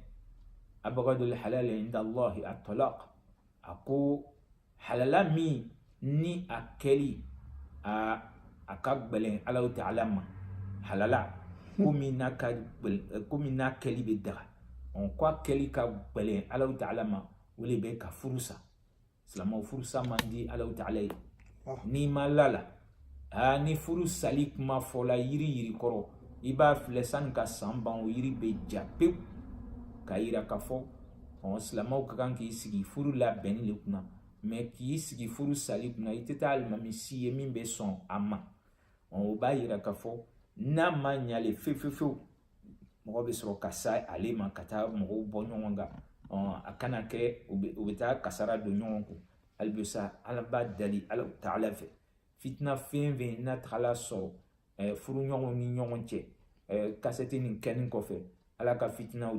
abgadul halal inda allahi at-talaq a ko halala min ni a kɛli a a ka gbɛlɛn alahu taala ma halala komi n'a ka komi n'a kɛli bɛ daga ko a kɛli ka gbɛlɛn alahu taala ma o de bɛ ka furu sa silamɛw furusa man di alahu taala ye n'i ma la a la aa ni furu sali kuma fɔla yiri yiri kɔrɔ i b'a filɛ sani ka san ban o yiri bɛ ja pewu k'a yira k'a fɔ ɔ silamɛw ka kan k'i sigi furu labɛnni de kunna mɛ k'i sigi furu sali kunna i tɛ taa alimami si ye min bɛ sɔn a ma ɔ o b'a yira k'a fɔ n'a ma ɲa le fefefewu mɔgɔ bɛ sɔrɔ ka sa ale ma ka taa mɔgɔw bɔ ɲɔgɔn kan ɔ a kana kɛ u bɛ taa kasara don ɲɔgɔn kun hali bi sa an b'a dali ala taala fɛ fitina fɛn fɛn n'a tagala sɔrɔ eh, furuɲɔgɔnw ni ɲɔgɔn cɛ eh, kasɛti nin kɛnin kɔfɛ ala ka fitinaw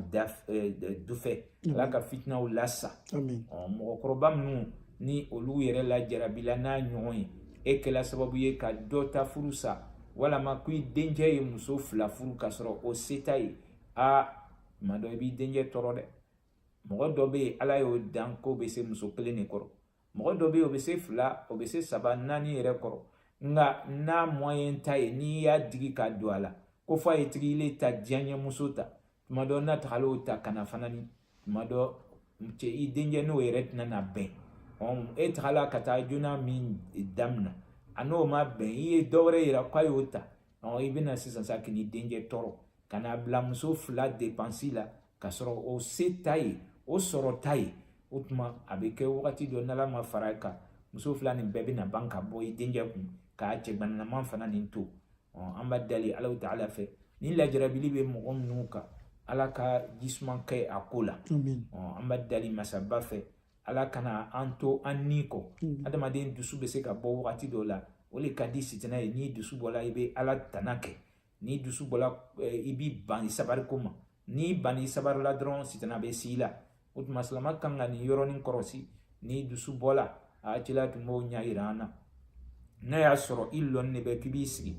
eh, dufɛ ala ka fitinaw lasa mɔgɔkɔrɔba minnu ni olu yɛrɛ lajarabila n'a ɲɔgɔn ye e kɛla sababu ye ka dɔ ta furu sa walama ko i denkɛ ye muso fila furu ka sɔrɔ o se t'a ye a tuma dɔ i b'i denkɛ tɔɔrɔ dɛ mɔgɔ dɔ bɛ yen ala y'o dan k'o bɛ se muso kelen de kɔrɔ mɔgɔ dɔ bɛ yen o bɛ se fila o bɛ se saba naani yɛrɛ kɔrɔ nka n'a moyen t'a ye n'i y'a digi ka don a la ko f'a ye tigi le ta diyaɲɛmuso ta tuma dɔ n'a tagala o ta ka na fana ni tuma dɔ cɛ i denkɛ n'o yɛrɛ tɛna na bɛn e tagala ka taa joona min damina a n'o ma bɛn i ye dɔ wɛrɛ yira k'a y'o ta i bɛna sisan sa k'i denkɛ tɔɔrɔ ka n'a bila muso fila depansi la ka sɔrɔ o se t'a ye o sɔrɔ t'a ye o tuma a bɛ kɛ wagati dɔ n'ala ma fara a kan muso fila nin bɛɛ bɛna ban ka bɔ i denkɛ kun k'a cɛganaman fana nin to an b'a dali ala taala fɛ ni lajarabili bɛ mɔgɔ minnu kan ala ka jisuman kɛ a ko la an b'a dali masaba fɛ ala kana an to an ni kɔ adamaden dusu bɛ se ka bɔ wagati dɔ la o de ka di sitana ye n'i dusu bɔla i bɛ ala tana kɛ n'i dusu bɔla eh, i b'i ban i sabari ko ma n'i ban i sabari la dɔrɔn sitana bɛ s'i la o tuma silama kan ka nin yɔrɔnin kɔrɔsi n'i dusu bɔla a cila tun b'o ɲɛ yira an na n'a y'a sɔrɔ i lɔnin de bɛ k'i b'i sigi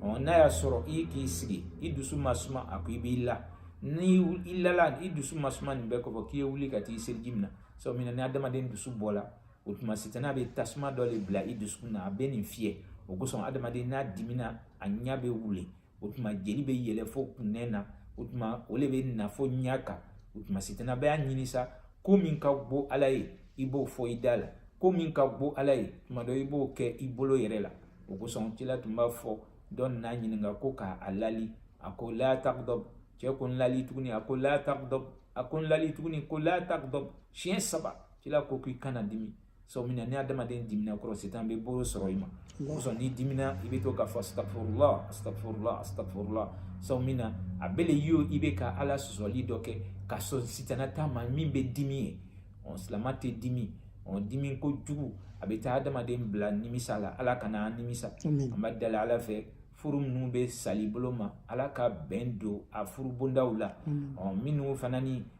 n'a y'a sɔrɔ i k'i sigi i dusu ma suma a ko i b'i la ni i lala i dusu ma suma nin bɛɛ kɔfɛ k'i ye wuli ka t'i seliji mina sabu min na ni adamaden dusu bɔla o tuma sitana bɛ tasuma dɔ de bila i dusukun na a bɛ nin fiyɛ o kosɔn adamaden n'a dimina a ɲɛ bɛ wulen o tuma jeli bɛ yɛlɛ fo kunnɛ na o tuma o de bɛ na fo ɲɛ kan o tuma sitana bɛ y'a ɲini sa ko min ka go ala ye i b'o fɔ i da la ko min ka go ala ye tuma dɔ i b'o kɛ i bolo yɛrɛ la o kosɔn cila tun b'a fɔ dɔ nan'a ɲininka ko k'a lali a ko la tagdab cɛ ko n lali tuguni a ko la tagdab a ko n lali tuguni ko la tagdab siɲɛ saba cila ko k'i kana dimi sabu min na ni adamaden dimina kɔrɔ sitan bɛ bolo sɔrɔ i ma o kosɔn n'i dimina i bɛ to k'a fɔ astafurula astafurula astafurula sabu min na a bɛ le yo i bɛ ka ala sɔsɔli dɔ kɛ ka sɔn sitana ta ma min bɛ dimi ye ɔ silama tɛ dimi ɔ dimi kojugu a bɛ taa adamaden bila nimisa la ala kana an nimisa an b'a dali ala fɛ furu minnu bɛ sali bolo ma ala ka bɛn don a furu bondaw la ɔ minnu fana ni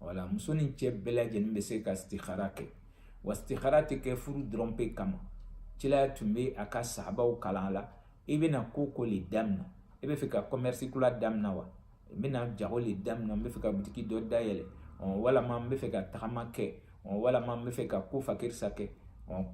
wala muso ni cɛ bɛɛ lajɛlen bɛ se ka istikara kɛ wa istikara tɛ kɛ furu dɔrɔn pe kama cilaya tun bɛ a ka sahabaw kalan la i bɛna ko o ko le damina i bɛ fɛ ka kɔmɛrisi kura damina wa n bɛna jago le damina n bɛ fɛ ka butiki dɔ dayɛlɛ walama n bɛ fɛ ka tagama kɛ walama n bɛ fɛ ka ko fakirisa kɛ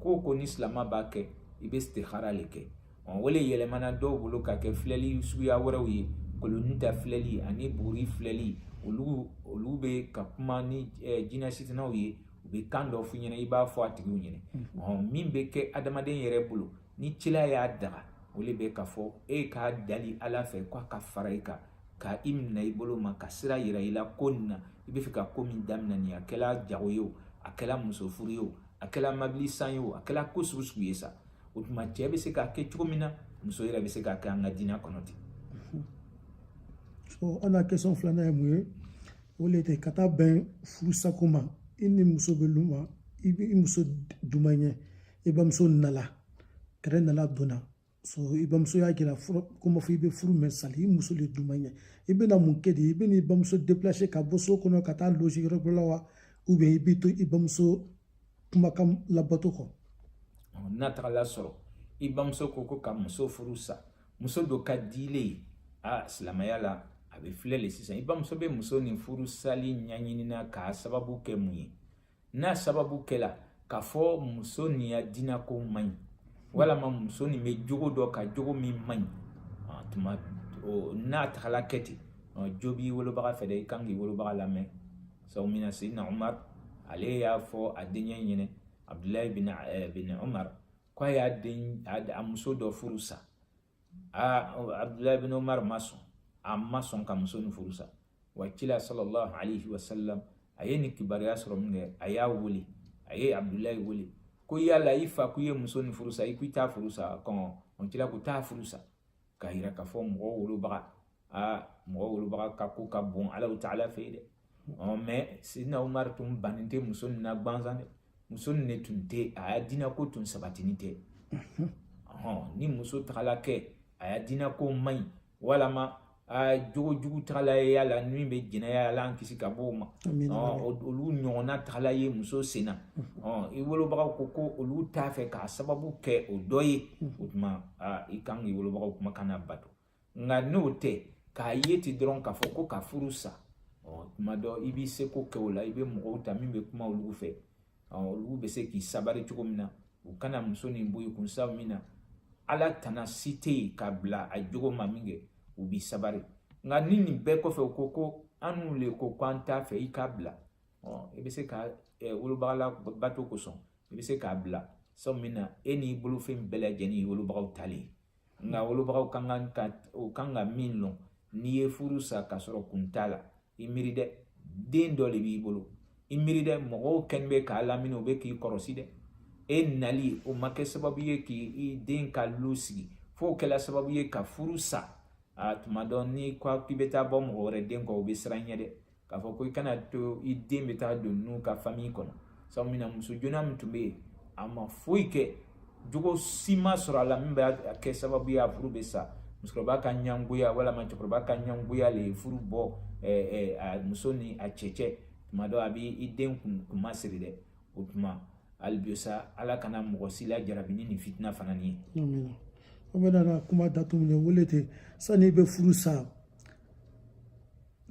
ko o ko ni silama b'a kɛ i bɛ istikara le kɛ o le yɛlɛmana dɔw bolo ka kɛ filɛli suguya wɛrɛw ye kolonin ta filɛli ani buguri filɛli olu olu bɛ ka kuma ni jinɛ sitanaw ye u bɛ kan dɔ f'u ɲɛna i b'a fɔ a tigiw ɲɛna ɔn min bɛ kɛ adamaden yɛrɛ bolo ni cila y'a daga o le bɛ ka fɔ e k'a dali ala fɛ k'a ka fara i kan ka i minɛ i bolo ma ka sira yira i la ko nin na i bɛ fɛ ka ko min daminɛ nin a kɛla jago ye o a kɛla muso furu ye o a kɛla mabili san ye o a kɛla ko sugu sugu ye sa o tuma cɛ bɛ se k'a kɛ cogo min na muso yɛrɛ bɛ se k'a kɛ an ka diinɛ kɔnɔ ten so an ka question filanan ye mun ye o le tɛ ka taa bɛn furusako ma i ni muso bɛ lu ma i bɛ i muso duman ɲɛ i bamuso nala kɛrɛ nala donna so i bamuso y'a jira i la ko ma fo i bɛ furu mɛn sa le i muso le duman ɲɛ i bɛna mun kɛ de i bɛna i bamuso déplacer ka bɔ so kɔnɔ ka taa loger yɔrɔ dɔ la wa ou bien i bɛ to i bamuso kumakan labato kɔ n'a tagala sɔrɔ i bamuso ko ko ka muso furu sa muso dɔ ka di ile ye a silamɛya la a bɛ filɛ le sisan i bamuso bɛ muso nin furu sali ɲɛɲinina k'a sababu kɛ mun ye n'a sababu kɛla k'a fɔ muso nin ya dina ko man ɲi walama muso nin bɛ jogo dɔ kan jogo min man ɲi ah, tuma n'a tagala kɛ ten ah, jo b'i wolobaga fɛ dɛ i kan k'i wolobaga lamɛn sabu min na sidina umar ale y'a fɔ a denkɛ ɲɛna abdulayi bin eh, bin umar ko a y'a den a muso dɔ furu sa a abdulayi bin umar ma sɔn a ma sɔn ka muso nin furu sa wa kila sallallahu alaihi wa sallam a ye nin kibaruya sɔrɔ minkɛ a y'a wele a ye abdulayi wele ko yala i fa k'i ye muso nin furu sa i k'i t'a furu sa ko ɔnhɔn kila ko taa furu sa k'a jira k'a fɔ mɔgɔ wolobaga aa mɔgɔ wolobaga ka ko ka bon ala taala fɛ yen dɛ ɔ mɛ sidina umari tun bannen tɛ muso nin na gansan dɛ muso nin de tun tɛ a ya dina ko tun sabatinin tɛ ɔhɔn ni muso tagala kɛ a ya dina ko man ɲi walama aa jogo jugu tagala ye y'a la min bɛ jɛnɛya ala an kisi ka bɔ o ma olu ɲɔgɔnna tagala ye muso senna i wolobagaw ko ko olu t'a fɛ k'a sababu kɛ o dɔ ye o tuma aa i kan k'i wolobagaw kumakan nabato nka n'o tɛ k'a ye ten dɔrɔn k'a fɔ ko ka furu sa tuma dɔ i b'i seko kɛ o la i bɛ mɔgɔw ta min bɛ kuma olu fɛ olu bɛ se k'i sabari cogo min na u kana muso nin bɔ i kun sabu min na ala tana si tɛ yen ka bila a jogo ma min kɛ u b'i sabari nka ni nin bɛɛ kɔfɛ u ko ko annu le ko k'an t'a fɛ i k'a bila i bɛ se ka wolobaga labato kosɔn i bɛ se k'a bila sabu min na e n'i bolofɛn bɛɛ lajɛlen ye wolobagaw ta le nka wolobagaw kan kan ka o kan ka min lɔn n'i ye furu sa k'a sɔrɔ kun t'a la i miiri dɛ den dɔ de b'i bolo i miiri dɛ mɔgɔw kɛlen bɛ k'a lamini o bɛ k'i kɔrɔsi dɛ e nali o ma kɛ sababu ye k'i den ka lu sigi f'o kɛla sababu ye ka furu sa a tuma dɔ n'i ko k'i bɛ taa bɔ mɔgɔ wɛrɛ den kɔ o bɛ siran i ɲɛ dɛ k'a fɔ ko i kana to i den bɛ taa don n'u ka fami kɔnɔ sabu min na muso joona min tun bɛ yen a ma foyi kɛ jogo si ma sɔrɔ a la min bɛ kɛ sababu ye a furu bɛ sa musokɔrɔba ka ɲangoya walima cɛkɔrɔba ka ɲangoya le ye furu bɔ ɛɛ a muso ni a cɛ cɛ tuma dɔ a bɛ i den kun kunmasiri dɛ o tuma hali bi sa ala kana mɔgɔ si lajarabi ni nin fitina fana ni ye. an bɛ na kuma datugu min na o le ten sani i bɛ furu sa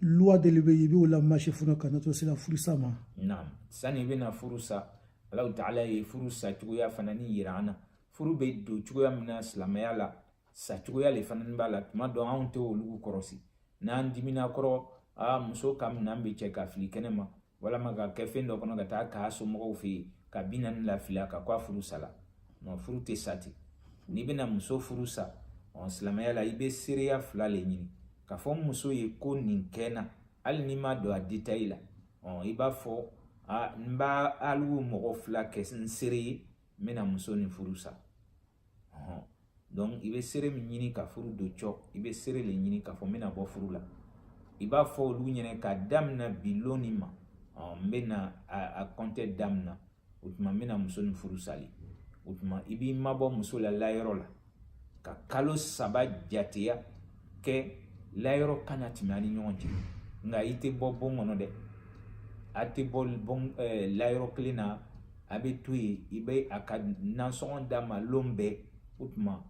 luwa dɔ le bɛ yen i b'o lamarse fɔlɔ ka na to se ka furu sa ma naam sani i bɛna furu sa alahu taala ye furu sa cogoya fana ni yira an na furu bɛ don cogoya min na silamɛya la sa cogoya le fana b'a la tuma dɔ anw tɛ olu kɔrɔsi n'an dimina kɔrɔ aa muso ka minan bɛɛ cɛ ka fili kɛnɛ ma walama k'a kɛ fɛn dɔ kɔnɔ ka taa k'a somɔgɔw fɛ yen ka bi naani lafili a kan k'a furu sala nka furu tɛ sa ten n'i bɛna muso furu sa ɔ silamɛya la i bɛ seereya fila le ɲini k'a fɔ n muso ye ko nin kɛ n na hali n'i ma don a detayi la ɔ i b'a fɔ a n b'alu mɔgɔ fila kɛ n seere ye n bɛna muso nin furu sa donc i bɛ seere min ɲini ka furu don cɔ i bɛ seere le ɲini k'a fɔ n bɛna bɔ furu la i b'a fɔ olu ɲɛna k'a damina bi lon nin ma n bɛna a kɔntɛ damina o tuma n bɛna muso nin furu sali o tuma i b'i mabɔ muso la layɔrɔ la ka kalo saba jateya kɛ layɔrɔ kana tɛmɛ a ni ɲɔgɔn cɛ nka i tɛ bɔ bon kɔnɔ dɛ a tɛ bɔ bon layɔrɔ kelen na a bɛ to yen i bɛ a ka nasɔngɔ d'a ma lon bɛɛ o tuma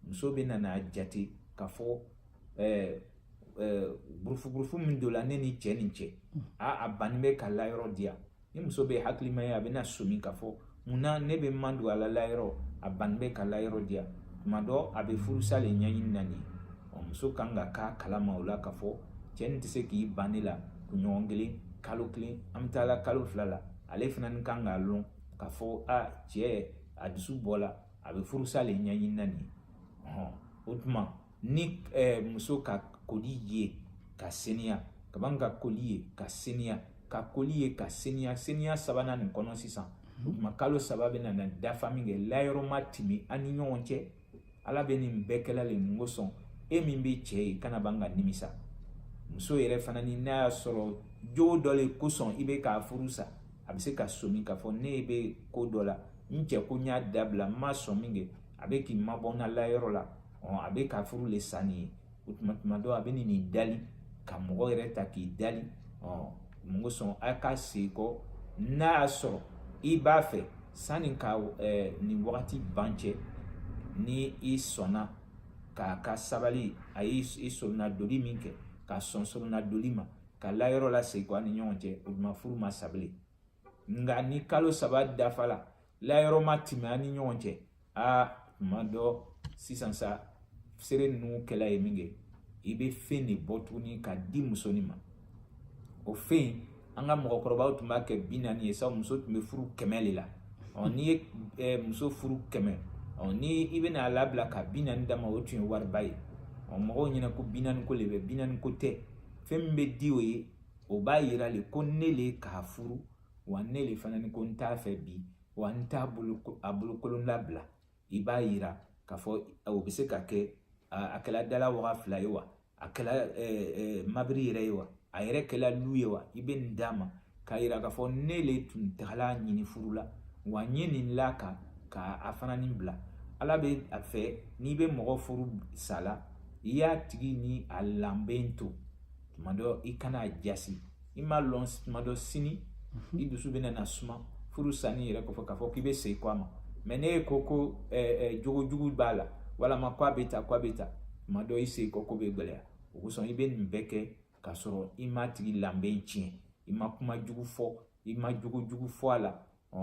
muso bɛ na n'a jate k'a fɔ burufuburufu min don la ne ni cɛ nin cɛ a a banni bɛ ka layɔrɔ di yan ni muso bɛ hakilima ye a bɛna somi k'a fɔ mun na ne bɛ madon a la layɔrɔ a ban bɛ ka layɔrɔ di yan tuma dɔ a bɛ furusa le ɲɛɲini na nin ye muso kan ka k'a kalama o la k'a fɔ cɛ nin tɛ se k'i ban ne la kunɲɔgɔn kelen kalo kelen an bɛ taa la kalo fila la ale fana ni kan k'a lɔn k'a fɔ a cɛ a dusu bɔ la a bɛ furusa le ɲɛɲini na nin ye o tuma ni eh, muso ka koli ye ka seniya ka ban ka koli ye ka seniya ka koli ye ka seniya seniya sabanan nin kɔnɔ sisan o mhm. tuma kalo saba bɛ nana dafa min kɛ layɔrɔ ma timi a ni ɲɔgɔn cɛ ala bɛ nin bɛɛ kɛla le mun kosɔn e min bɛ cɛ ye kana ban ka nimisa muso yɛrɛ fana ni n'a y'a sɔrɔ jogo dɔ le kosɔn i bɛ k'a furu sa a bɛ se ka somi k'a fɔ ne bɛ ko dɔ la n cɛ ko n y'a dabila n ma sɔn min kɛ a bɛ k'i mabɔ n na layɔrɔ la a bɛ ka furu le sa nin ye o tuma tuma dɔ a bɛ nin nin dali ka mɔgɔ yɛrɛ ta k'i dali mun kosɔn a ka segin kɔ n'a y'a sɔrɔ i b'a fɛ sanni ka nin wagati ban cɛ ni i sɔnna k'a ka sabali a y'i soronadoli min kɛ ka sɔn soronadoli ma ka layɔrɔ lasegin kɔ a ni ɲɔgɔn cɛ o tuma furu ma sa bilen nka ni kalo saba dafala layɔrɔ ma tɛmɛ a ni ɲɔgɔn cɛ aa tuma dɔ sisan sa seere ninnu kɛla yen min kɛ i bɛ fɛn de bɔ tuguni ka di muso nin ma o fɛn in an ka mɔgɔkɔrɔbaw tun b'a kɛ bi naani ye sabu muso tun bɛ furu kɛmɛ de la ɔ n'i ye eh, muso furu kɛmɛ ɔ ni i bɛna a labila ka bi naani d'a ma o tun ye wariba ye ɔ mɔgɔw ɲɛna ko bi naani ko de bɛ bi naani ko tɛ fɛn min bɛ di o ye o b'a yira le ko ne le ka furu wa ne le fana ni ko n t'a fɛ bi wa n t'a bolo a bolokolon labila i b'a yira k'a fɔ o bɛ se ka kɛ a kɛla dala waga fila ye wa a kɛla mobili yɛrɛ ye wa a yɛrɛ kɛla lu ye wa i bɛ nin d'a ma k'a yira k'a fɔ ne le tun tagal'a ɲini furu la wa n ye nin la ka ka a fana nin bila ala bɛ a fɛ n'i bɛ mɔgɔ furu sala i y'a tigi ni a lanbe to tuma dɔ i kana a jasi i m'a lɔn tuma dɔ sini i dusu bɛ na suma furu sanni yɛrɛ kɔfɛ k'a fɔ k'i bɛ segin kɔ a ma mɛ n'e ko ko jogo jugu b'a la walama ko a bɛ tan ko a bɛ tan tuma dɔ i segin kɔ ko bɛ gɛlɛya o kosɔn i bɛ nin bɛɛ kɛ k'a sɔrɔ i m'a tigi lanbe tiɲɛ i ma kuma jugu fɔ i ma jogo jugu fɔ a la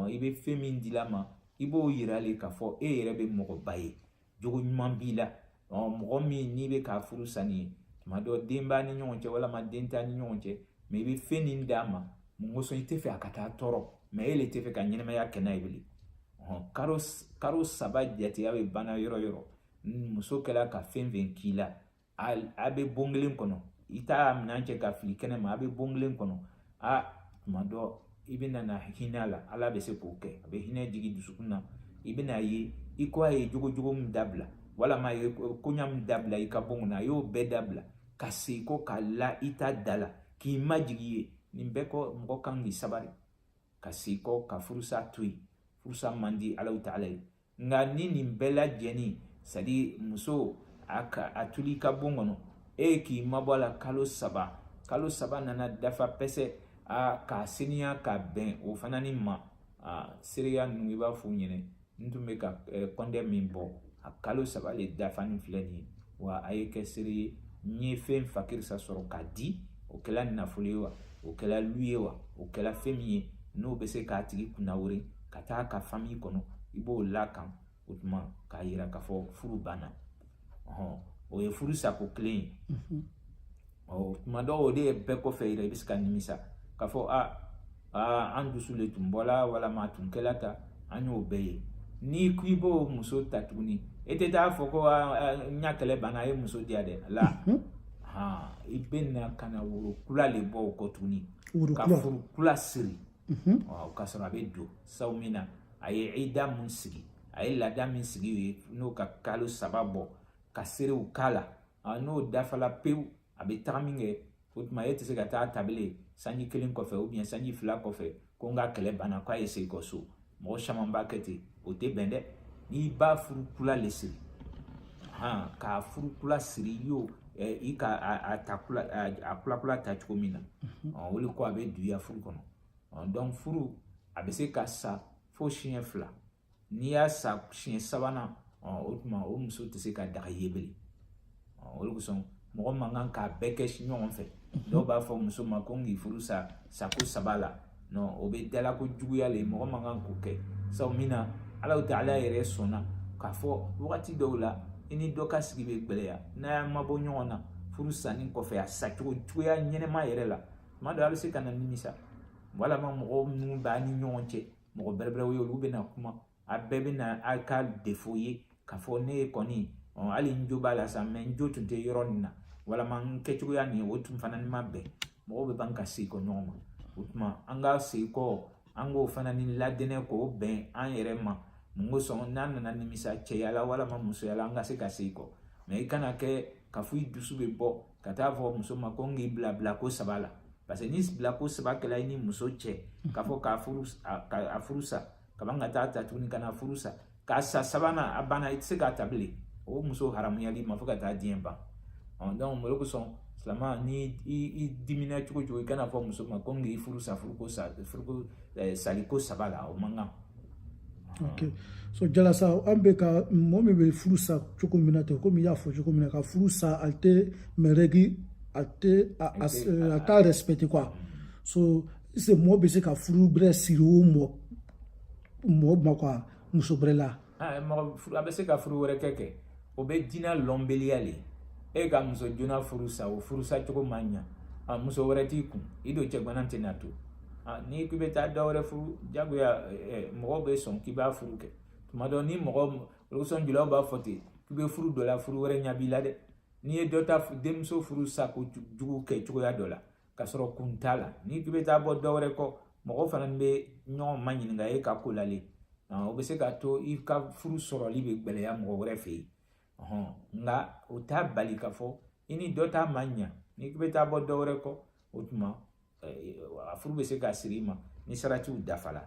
i bɛ fɛn min dil'a ma i b'o yira le k'a fɔ e yɛrɛ bɛ mɔgɔba ye jogo ɲuman b'i la mɔgɔ min n'i bɛ k'a furu sanni ye tuma dɔ den b'a ni ɲɔgɔn cɛ walima den t'a ni ɲɔgɔn cɛ mɛ i bɛ fɛn nin d'a ma mun kosɔn i tɛ fɛ a ka taa tɔɔrɔ mɛ e le tɛ fɛ ka ɲɛnamaya kɛ n'a ye bilen karo karo saba jateya bɛ banna yɔrɔ yɔrɔ muso kɛla ka fɛn fɛn k'i la a bɛ bon kelen kɔnɔ i t'a minɛn cɛ ka fili kɛnɛ ma a bɛ bon kelen kɔnɔ a tuma dɔ i bɛ na hinɛ a la ala bɛ se k'o kɛ a bɛ hinɛ jigin dusukun na i bɛ n'a ye i ko a ye jogo jugu min dabila walama a ye koɲa min dabila i ka bon kɔnɔ a y'o bɛɛ dabila ka segin kɔ k'a la i ta da la k'i majigi ye nin bɛɛ kɔ mɔgɔ kan k'i sabari ka segin kɔ ka furusa to yen furusa man di alahu taala ye nka ni nin bɛɛ lajɛlen sadi muso a ka a tol'i ka bon kɔnɔ e ye k'i mabɔ a la kalo saba kalo saba nana dafa pɛsɛ a k'a seniya ka bɛn o fana ni ma a seereya ninnu i b'a f'u ɲɛna n tun bɛ ka kɔnte min bɔ a kalo saba le dafa nin filɛ nin ye wa a ye kɛ seere ye n ye fɛn fakirisa sɔrɔ k'a di o kɛla nafolo ye wa o kɛla lu ye wa o kɛla fɛn min ye n'o bɛ se k'a tigi kunnawolo ka taa a ka fami kɔnɔ i b'o l'a kan o tuma k'a yira k'a fɔ furu banna ɔhɔn o ye furu sako kelen ye ɔ tuma dɔw o de ye bɛɛ kɔfɛ yɛrɛ i bɛ se ka nimisa k'a fɔ a aa an dusu le tun bɔla walama a tun kɛla tan an y'o bɛɛ ye n'i ko i b'o muso ta tuguni e tɛ taa fɔ ko n y'a kɛlɛ banna a ye muso di yan dɛ la i bɛ na ka na woro kula le bɔ o kɔ tuguni ka furu kula siri ɔ k'a sɔrɔ a bɛ don sabu min na a ye ida min sigi a ye laada min sigi u ye n'o ka kalo saba bɔ ka seerew k'a la a n'o dafala pewu a bɛ taga minkɛ o tuma e tɛ se ka taa ta bilen sanji kelen kɔfɛ ou bien sanji fila kɔfɛ ko n ka kɛlɛ banna k'a ye segin kɔ so mɔgɔ caman b'a kɛ ten o tɛ bɛn dɛ n'i b'a furu kula le siri han k'a furu kula siri i y'o i ka a ta kula a kula kula ta cogo min na o de ko a bɛ duya furu kɔnɔ donc furu a bɛ se ka sa fo siɲɛ fila n'i y'a sa siɲɛ sabanan o tuma o muso tɛ se ka daga i ye bilen o de kosɔn mɔgɔ man kan k'a bɛɛ kɛ ɲɔgɔn fɛ dɔw b'a fɔ muso ma ko n k'i furu sa sako saba la non o bɛ dalako juguya le mɔgɔ man kan k'o kɛ sabu min na alahu taala yɛrɛ sɔnna k'a fɔ wagati dɔw la i ni dɔ ka sigi bɛ gɛlɛya n'a y'a mabɔ ɲɔgɔn na furu sanni kɔfɛ a sacogo juguya ɲɛnɛma yɛrɛ la tuma dɔ a bɛ se ka na nimisa walama mɔgɔw minnu b'a ni ɲɔgɔn cɛ mɔgɔ bɛrɛbɛrɛw ye olu bɛna kuma a bɛɛ bɛna a ka défaut ye k'a fɔ ne ye kɔni hali n jo b'a la sa mais n jo tun tɛ yɔrɔ nin na walama n kɛcogoya nin o tun fana ni ma bɛn mɔgɔw bɛ ban ka segin kɔ ɲɔgɔn ma o tuma an ka segin kɔ an k'o fana ni ladɛnɛ k'o bɛn an yɛrɛ ma mun kosɔn n'an nana nimisa cɛya la walama musoya la an ka se ka segin kɔ mais i kana kɛ k'a fɔ i dusu bɛ bɔ ka taa fɔ muso ma ko n k'i bila bila ko saba la parce que ni bila ko saba kɛla i ni muso cɛ k'a fɔ k'a furu a furu sa ka ban ka taa ta tuguni ka na furu sa k'a sa sabanan a banna i tɛ se k'a ta bilen o muso haramuyala i ma fo ka taa diɲɛ ban ɔ donc o de kosɔn silama ni i dimina cogo o cogo i kana fɔ muso ma ko n k'i furu sa furuko sa furuko sali ko saba la o man kan ok so jala sa an bɛ ka mɔgɔ min bɛ furu sa cogo min na ten komi i y'a fɔ cogo min na ka furu sa a tɛ mɛrɛgi a tɛ a t'a respecte quoi so est-ce que mɔgɔ bɛ se ka furu gbɛrɛ siri o mɔ mɔgɔ ma quoi muso gbɛrɛ la. mɔgɔ a bɛ se ka furu wɛrɛ kɛ kɛ. o bɛ diinɛ lɔnbeliya le e ka muso joona furu sa o furusa cogo ma ɲa a muso wɛrɛ t'i kun i don cɛgana tɛ na to a n'i k'i bɛ taa dɔ wɛrɛ furu jagoya mɔgɔw bɛ sɔn k'i b'a furu kɛ tuma dɔ ni mɔgɔ olu sɔn julaw b'a fɔ ten k'i bɛ furu dɔ la furu wɛrɛ ɲa b'i la dɛ n'i ye dɔ ta denmuso furu sako jugu kɛ cogoya dɔ la ka sɔrɔ kun t'a la n'i k'i bɛ taa bɔ dɔ wɛrɛ kɔ mɔgɔ fana bɛ ɲɔgɔn ma ɲininka e ka ko la le o bɛ se k'a to i ka furu sɔrɔli bɛ gɛlɛya mɔgɔ wɛrɛ fɛ yen nka o t'a bali k'a fɔ i ni dɔ ta ma ɲa n'i k'i bɛ taa bɔ dɔ wɛrɛ kɔ o tuma a furu bɛ se ka siri i ma ni saratiw dafala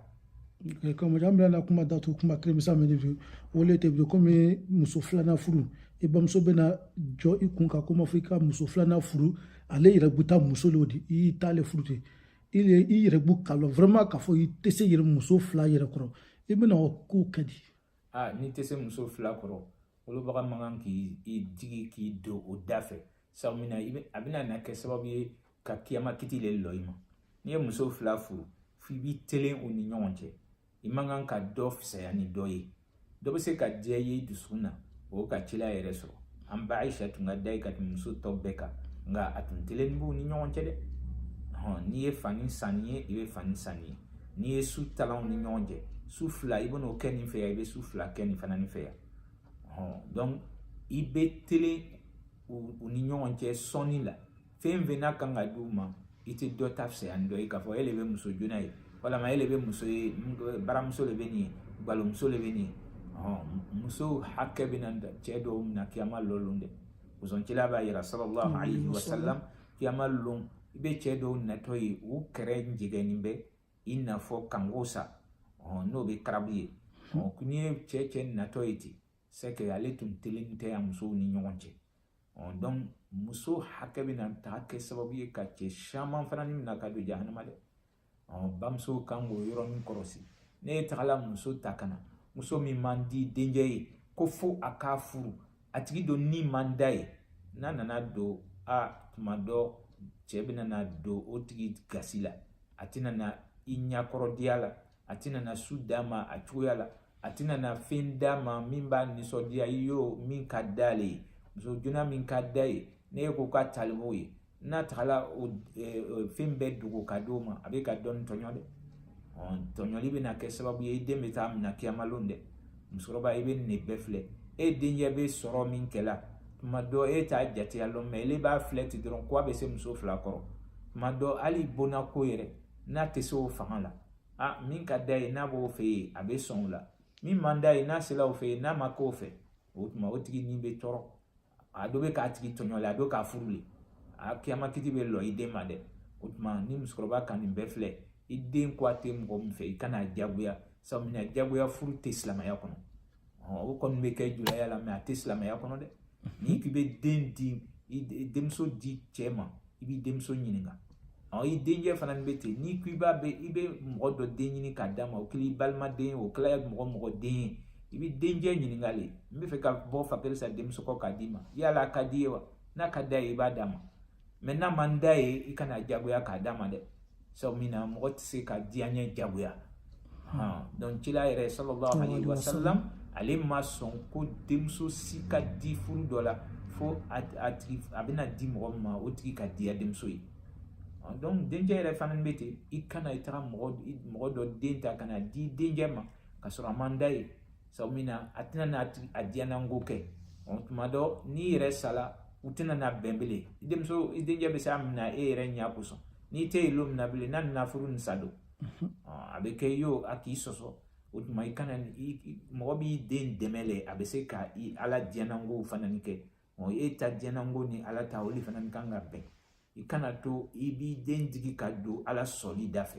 kɔmɔjɔ an bɛna kuma datu kuma kirimisa min de bi o le tɛ bi comme muso filanan furu i bamuso bɛna jɔ i kun kan ko ma fo i ka muso filanan furu ale yɛrɛ bɛ taa muso de di i y'i t'ale furu ten i yɛrɛ b'o kalama vraiment k'a fɔ i tɛ se yɛrɛ muso fila yɛrɛ kɔrɔ i bɛna o ko kɛ di aa n'i tɛ se muso fila kɔrɔ wolobaga man kan k'i digi k'i don o da fɛ sabu mun na a bɛna na kɛ sababu ye ka kiyama kiti le lɔ i ma n'i ye muso fila furu f'i b'i telen u ni ɲɔgɔn cɛ i man kan ka dɔ fisaya ni dɔ ye dɔ bɛ se ka diya i ye i dusukun na o ka cila yɛrɛ sɔrɔ an ba ayisa tun ka d'a ye ka tɛmɛ muso tɔ bɛɛ kan nka a tun telen b'u ni ɲɔgɔn cɛ dɛ hɔn n'i ye fani san nin ye i bɛ fani san nin ye n'i ye su talan u ni ɲɔgɔn cɛ su fila i bɛn'o kɛ nin fɛ yan i bɛ su fila kɛ nin fana nin fɛ yan hɔn donc i bɛ telen u ni ɲɔgɔn cɛ sɔnni la fɛn fɛn n'a kan ka d'u ma i tɛ dɔ ta fisaya ni dɔ ye k'a fɔ e de bɛ muso joona ye walama e de bɛ muso ye baramuso de bɛ nin ye galomuso de bɛ nin ye muso hakɛ bɛna cɛ dɔw mina kiyama lɔ lon dɛ musoncila b'a yira sallallahu alaihi wa sallam kiyama lon i bɛ cɛ dɔw natɔ ye u kɛrɛ jɛgɛnnen bɛ i n'a fɔ kanko sa n'o bɛ crabe ye n'i ye cɛ cɛ natɔ ye ten c'est que ale tun telen tɛ a musow ni ɲɔgɔn cɛ donc muso hakɛ bɛna taa kɛ sababu ye ka cɛ caman fana ni mina ka don jahanama dɛ bamuso kan k'o yɔrɔnin kɔlɔsi ni e tagala muso ta ka na muso min man di denkɛ ye ko fo a k'a furu a tigi don ni man d'a ye n'a nana don a tuma dɔ cɛ bɛna na don o tigi gasi la a tɛna na i ɲɛkɔrɔdiya la a tɛna na su d'a ma a cogoya la a tɛna na fɛn d'a ma min b'a nisɔndiya i y'o min ka d'ale ye muso joona min ka d'a ye ne ye ko ka talibo ye n'a tagala o fɛn bɛɛ dogo ka d'o ma a bɛ ka dɔ nin tɔɲɔ dɛ tɔɲɔli bɛna kɛ sababu ye i den bɛ taa minɛ kiyama lon dɛ musokɔrɔba i bɛ nin de bɛɛ filɛ e denkɛ bɛ sɔrɔ min kɛla tuma dɔ e t'a jateya lɔn mais ele b'a filɛ ten dɔrɔn ko a bɛ se muso fila kɔrɔ tuma dɔ hali bonna ko yɛrɛ n'a tɛ se o fanga la min ka d'a ye n'a b'o fɛ yen a bɛ sɔn o la min man d'a ye n'a sera o fɛ yen n'a ma k'o fɛ o tuma o tigi ni bɛ tɔɔrɔ a dɔ bɛ k'a tigi tɔɲɔ la a dɔ k'a furu le a kiyama kiti bɛ lɔ i den ma dɛ o tuma ni musokɔrɔba ka nin bɛɛ filɛ i den ko a tɛ mɔgɔ min fɛ i kana a diyagoya sabu mun na diyagoya furu tɛ silamɛya kɔnɔ o kɔni bɛ kɛ julaya la mais a tɛ silamɛya kɔnɔ dɛ n'i k'i bɛ den di denmuso di cɛ ma i b'i denmuso ɲininka ɔ i denkɛ fana bɛ ten n'i ko i b'a bɛ i bɛ mɔgɔ dɔ den ɲini k'a d'a ma o kɛla i balimaden o kɛla mɔgɔ mɔgɔ den ye i bɛ denkɛ ɲininka le n bɛ fɛ ka bɔ fa karisa denmuso kɔ k'a d'i ma yala a ka d'i ye wa n'a ka d'a ye i b'a d'a ma mɛ n'a man d'a ye i kana jagoya k'a d'a ma dɛ sabu min na mɔgɔ tɛ se ka diyaɲɛ jagoya donc cila yɛrɛ sallallahu alaihi wasallam ale ma sɔn ko denmuso si ka di furu dɔ la fo a bɛna di mɔgɔ min ma o tigi ka diya denmuso ye donc denkɛ yɛrɛ fana bɛ ten i kana i taga mɔgɔ dɔ den ta ka na di denkɛ ma k'a sɔrɔ a man d'a ye sabu min na a tɛna n'a diyananko kɛ tuma dɔ n'i yɛrɛ sala u tɛna na bɛn bilen i denmuso i denkɛ bɛ se a minɛ e yɛrɛ ɲɛ kosɔn n'i tɛ yen lon min na bilen n'a nana furu nin sa don a bɛ kɛ iyo a k'i sɔsɔ o tuma i kana mɔgɔ b'i den dɛmɛ le a bɛ se ka ala diyanankow fana kɛ e ta diyananko ni ala ta olu fana kan ka bɛn i kana to i b'i den digi ka don ala sɔsɔli da fɛ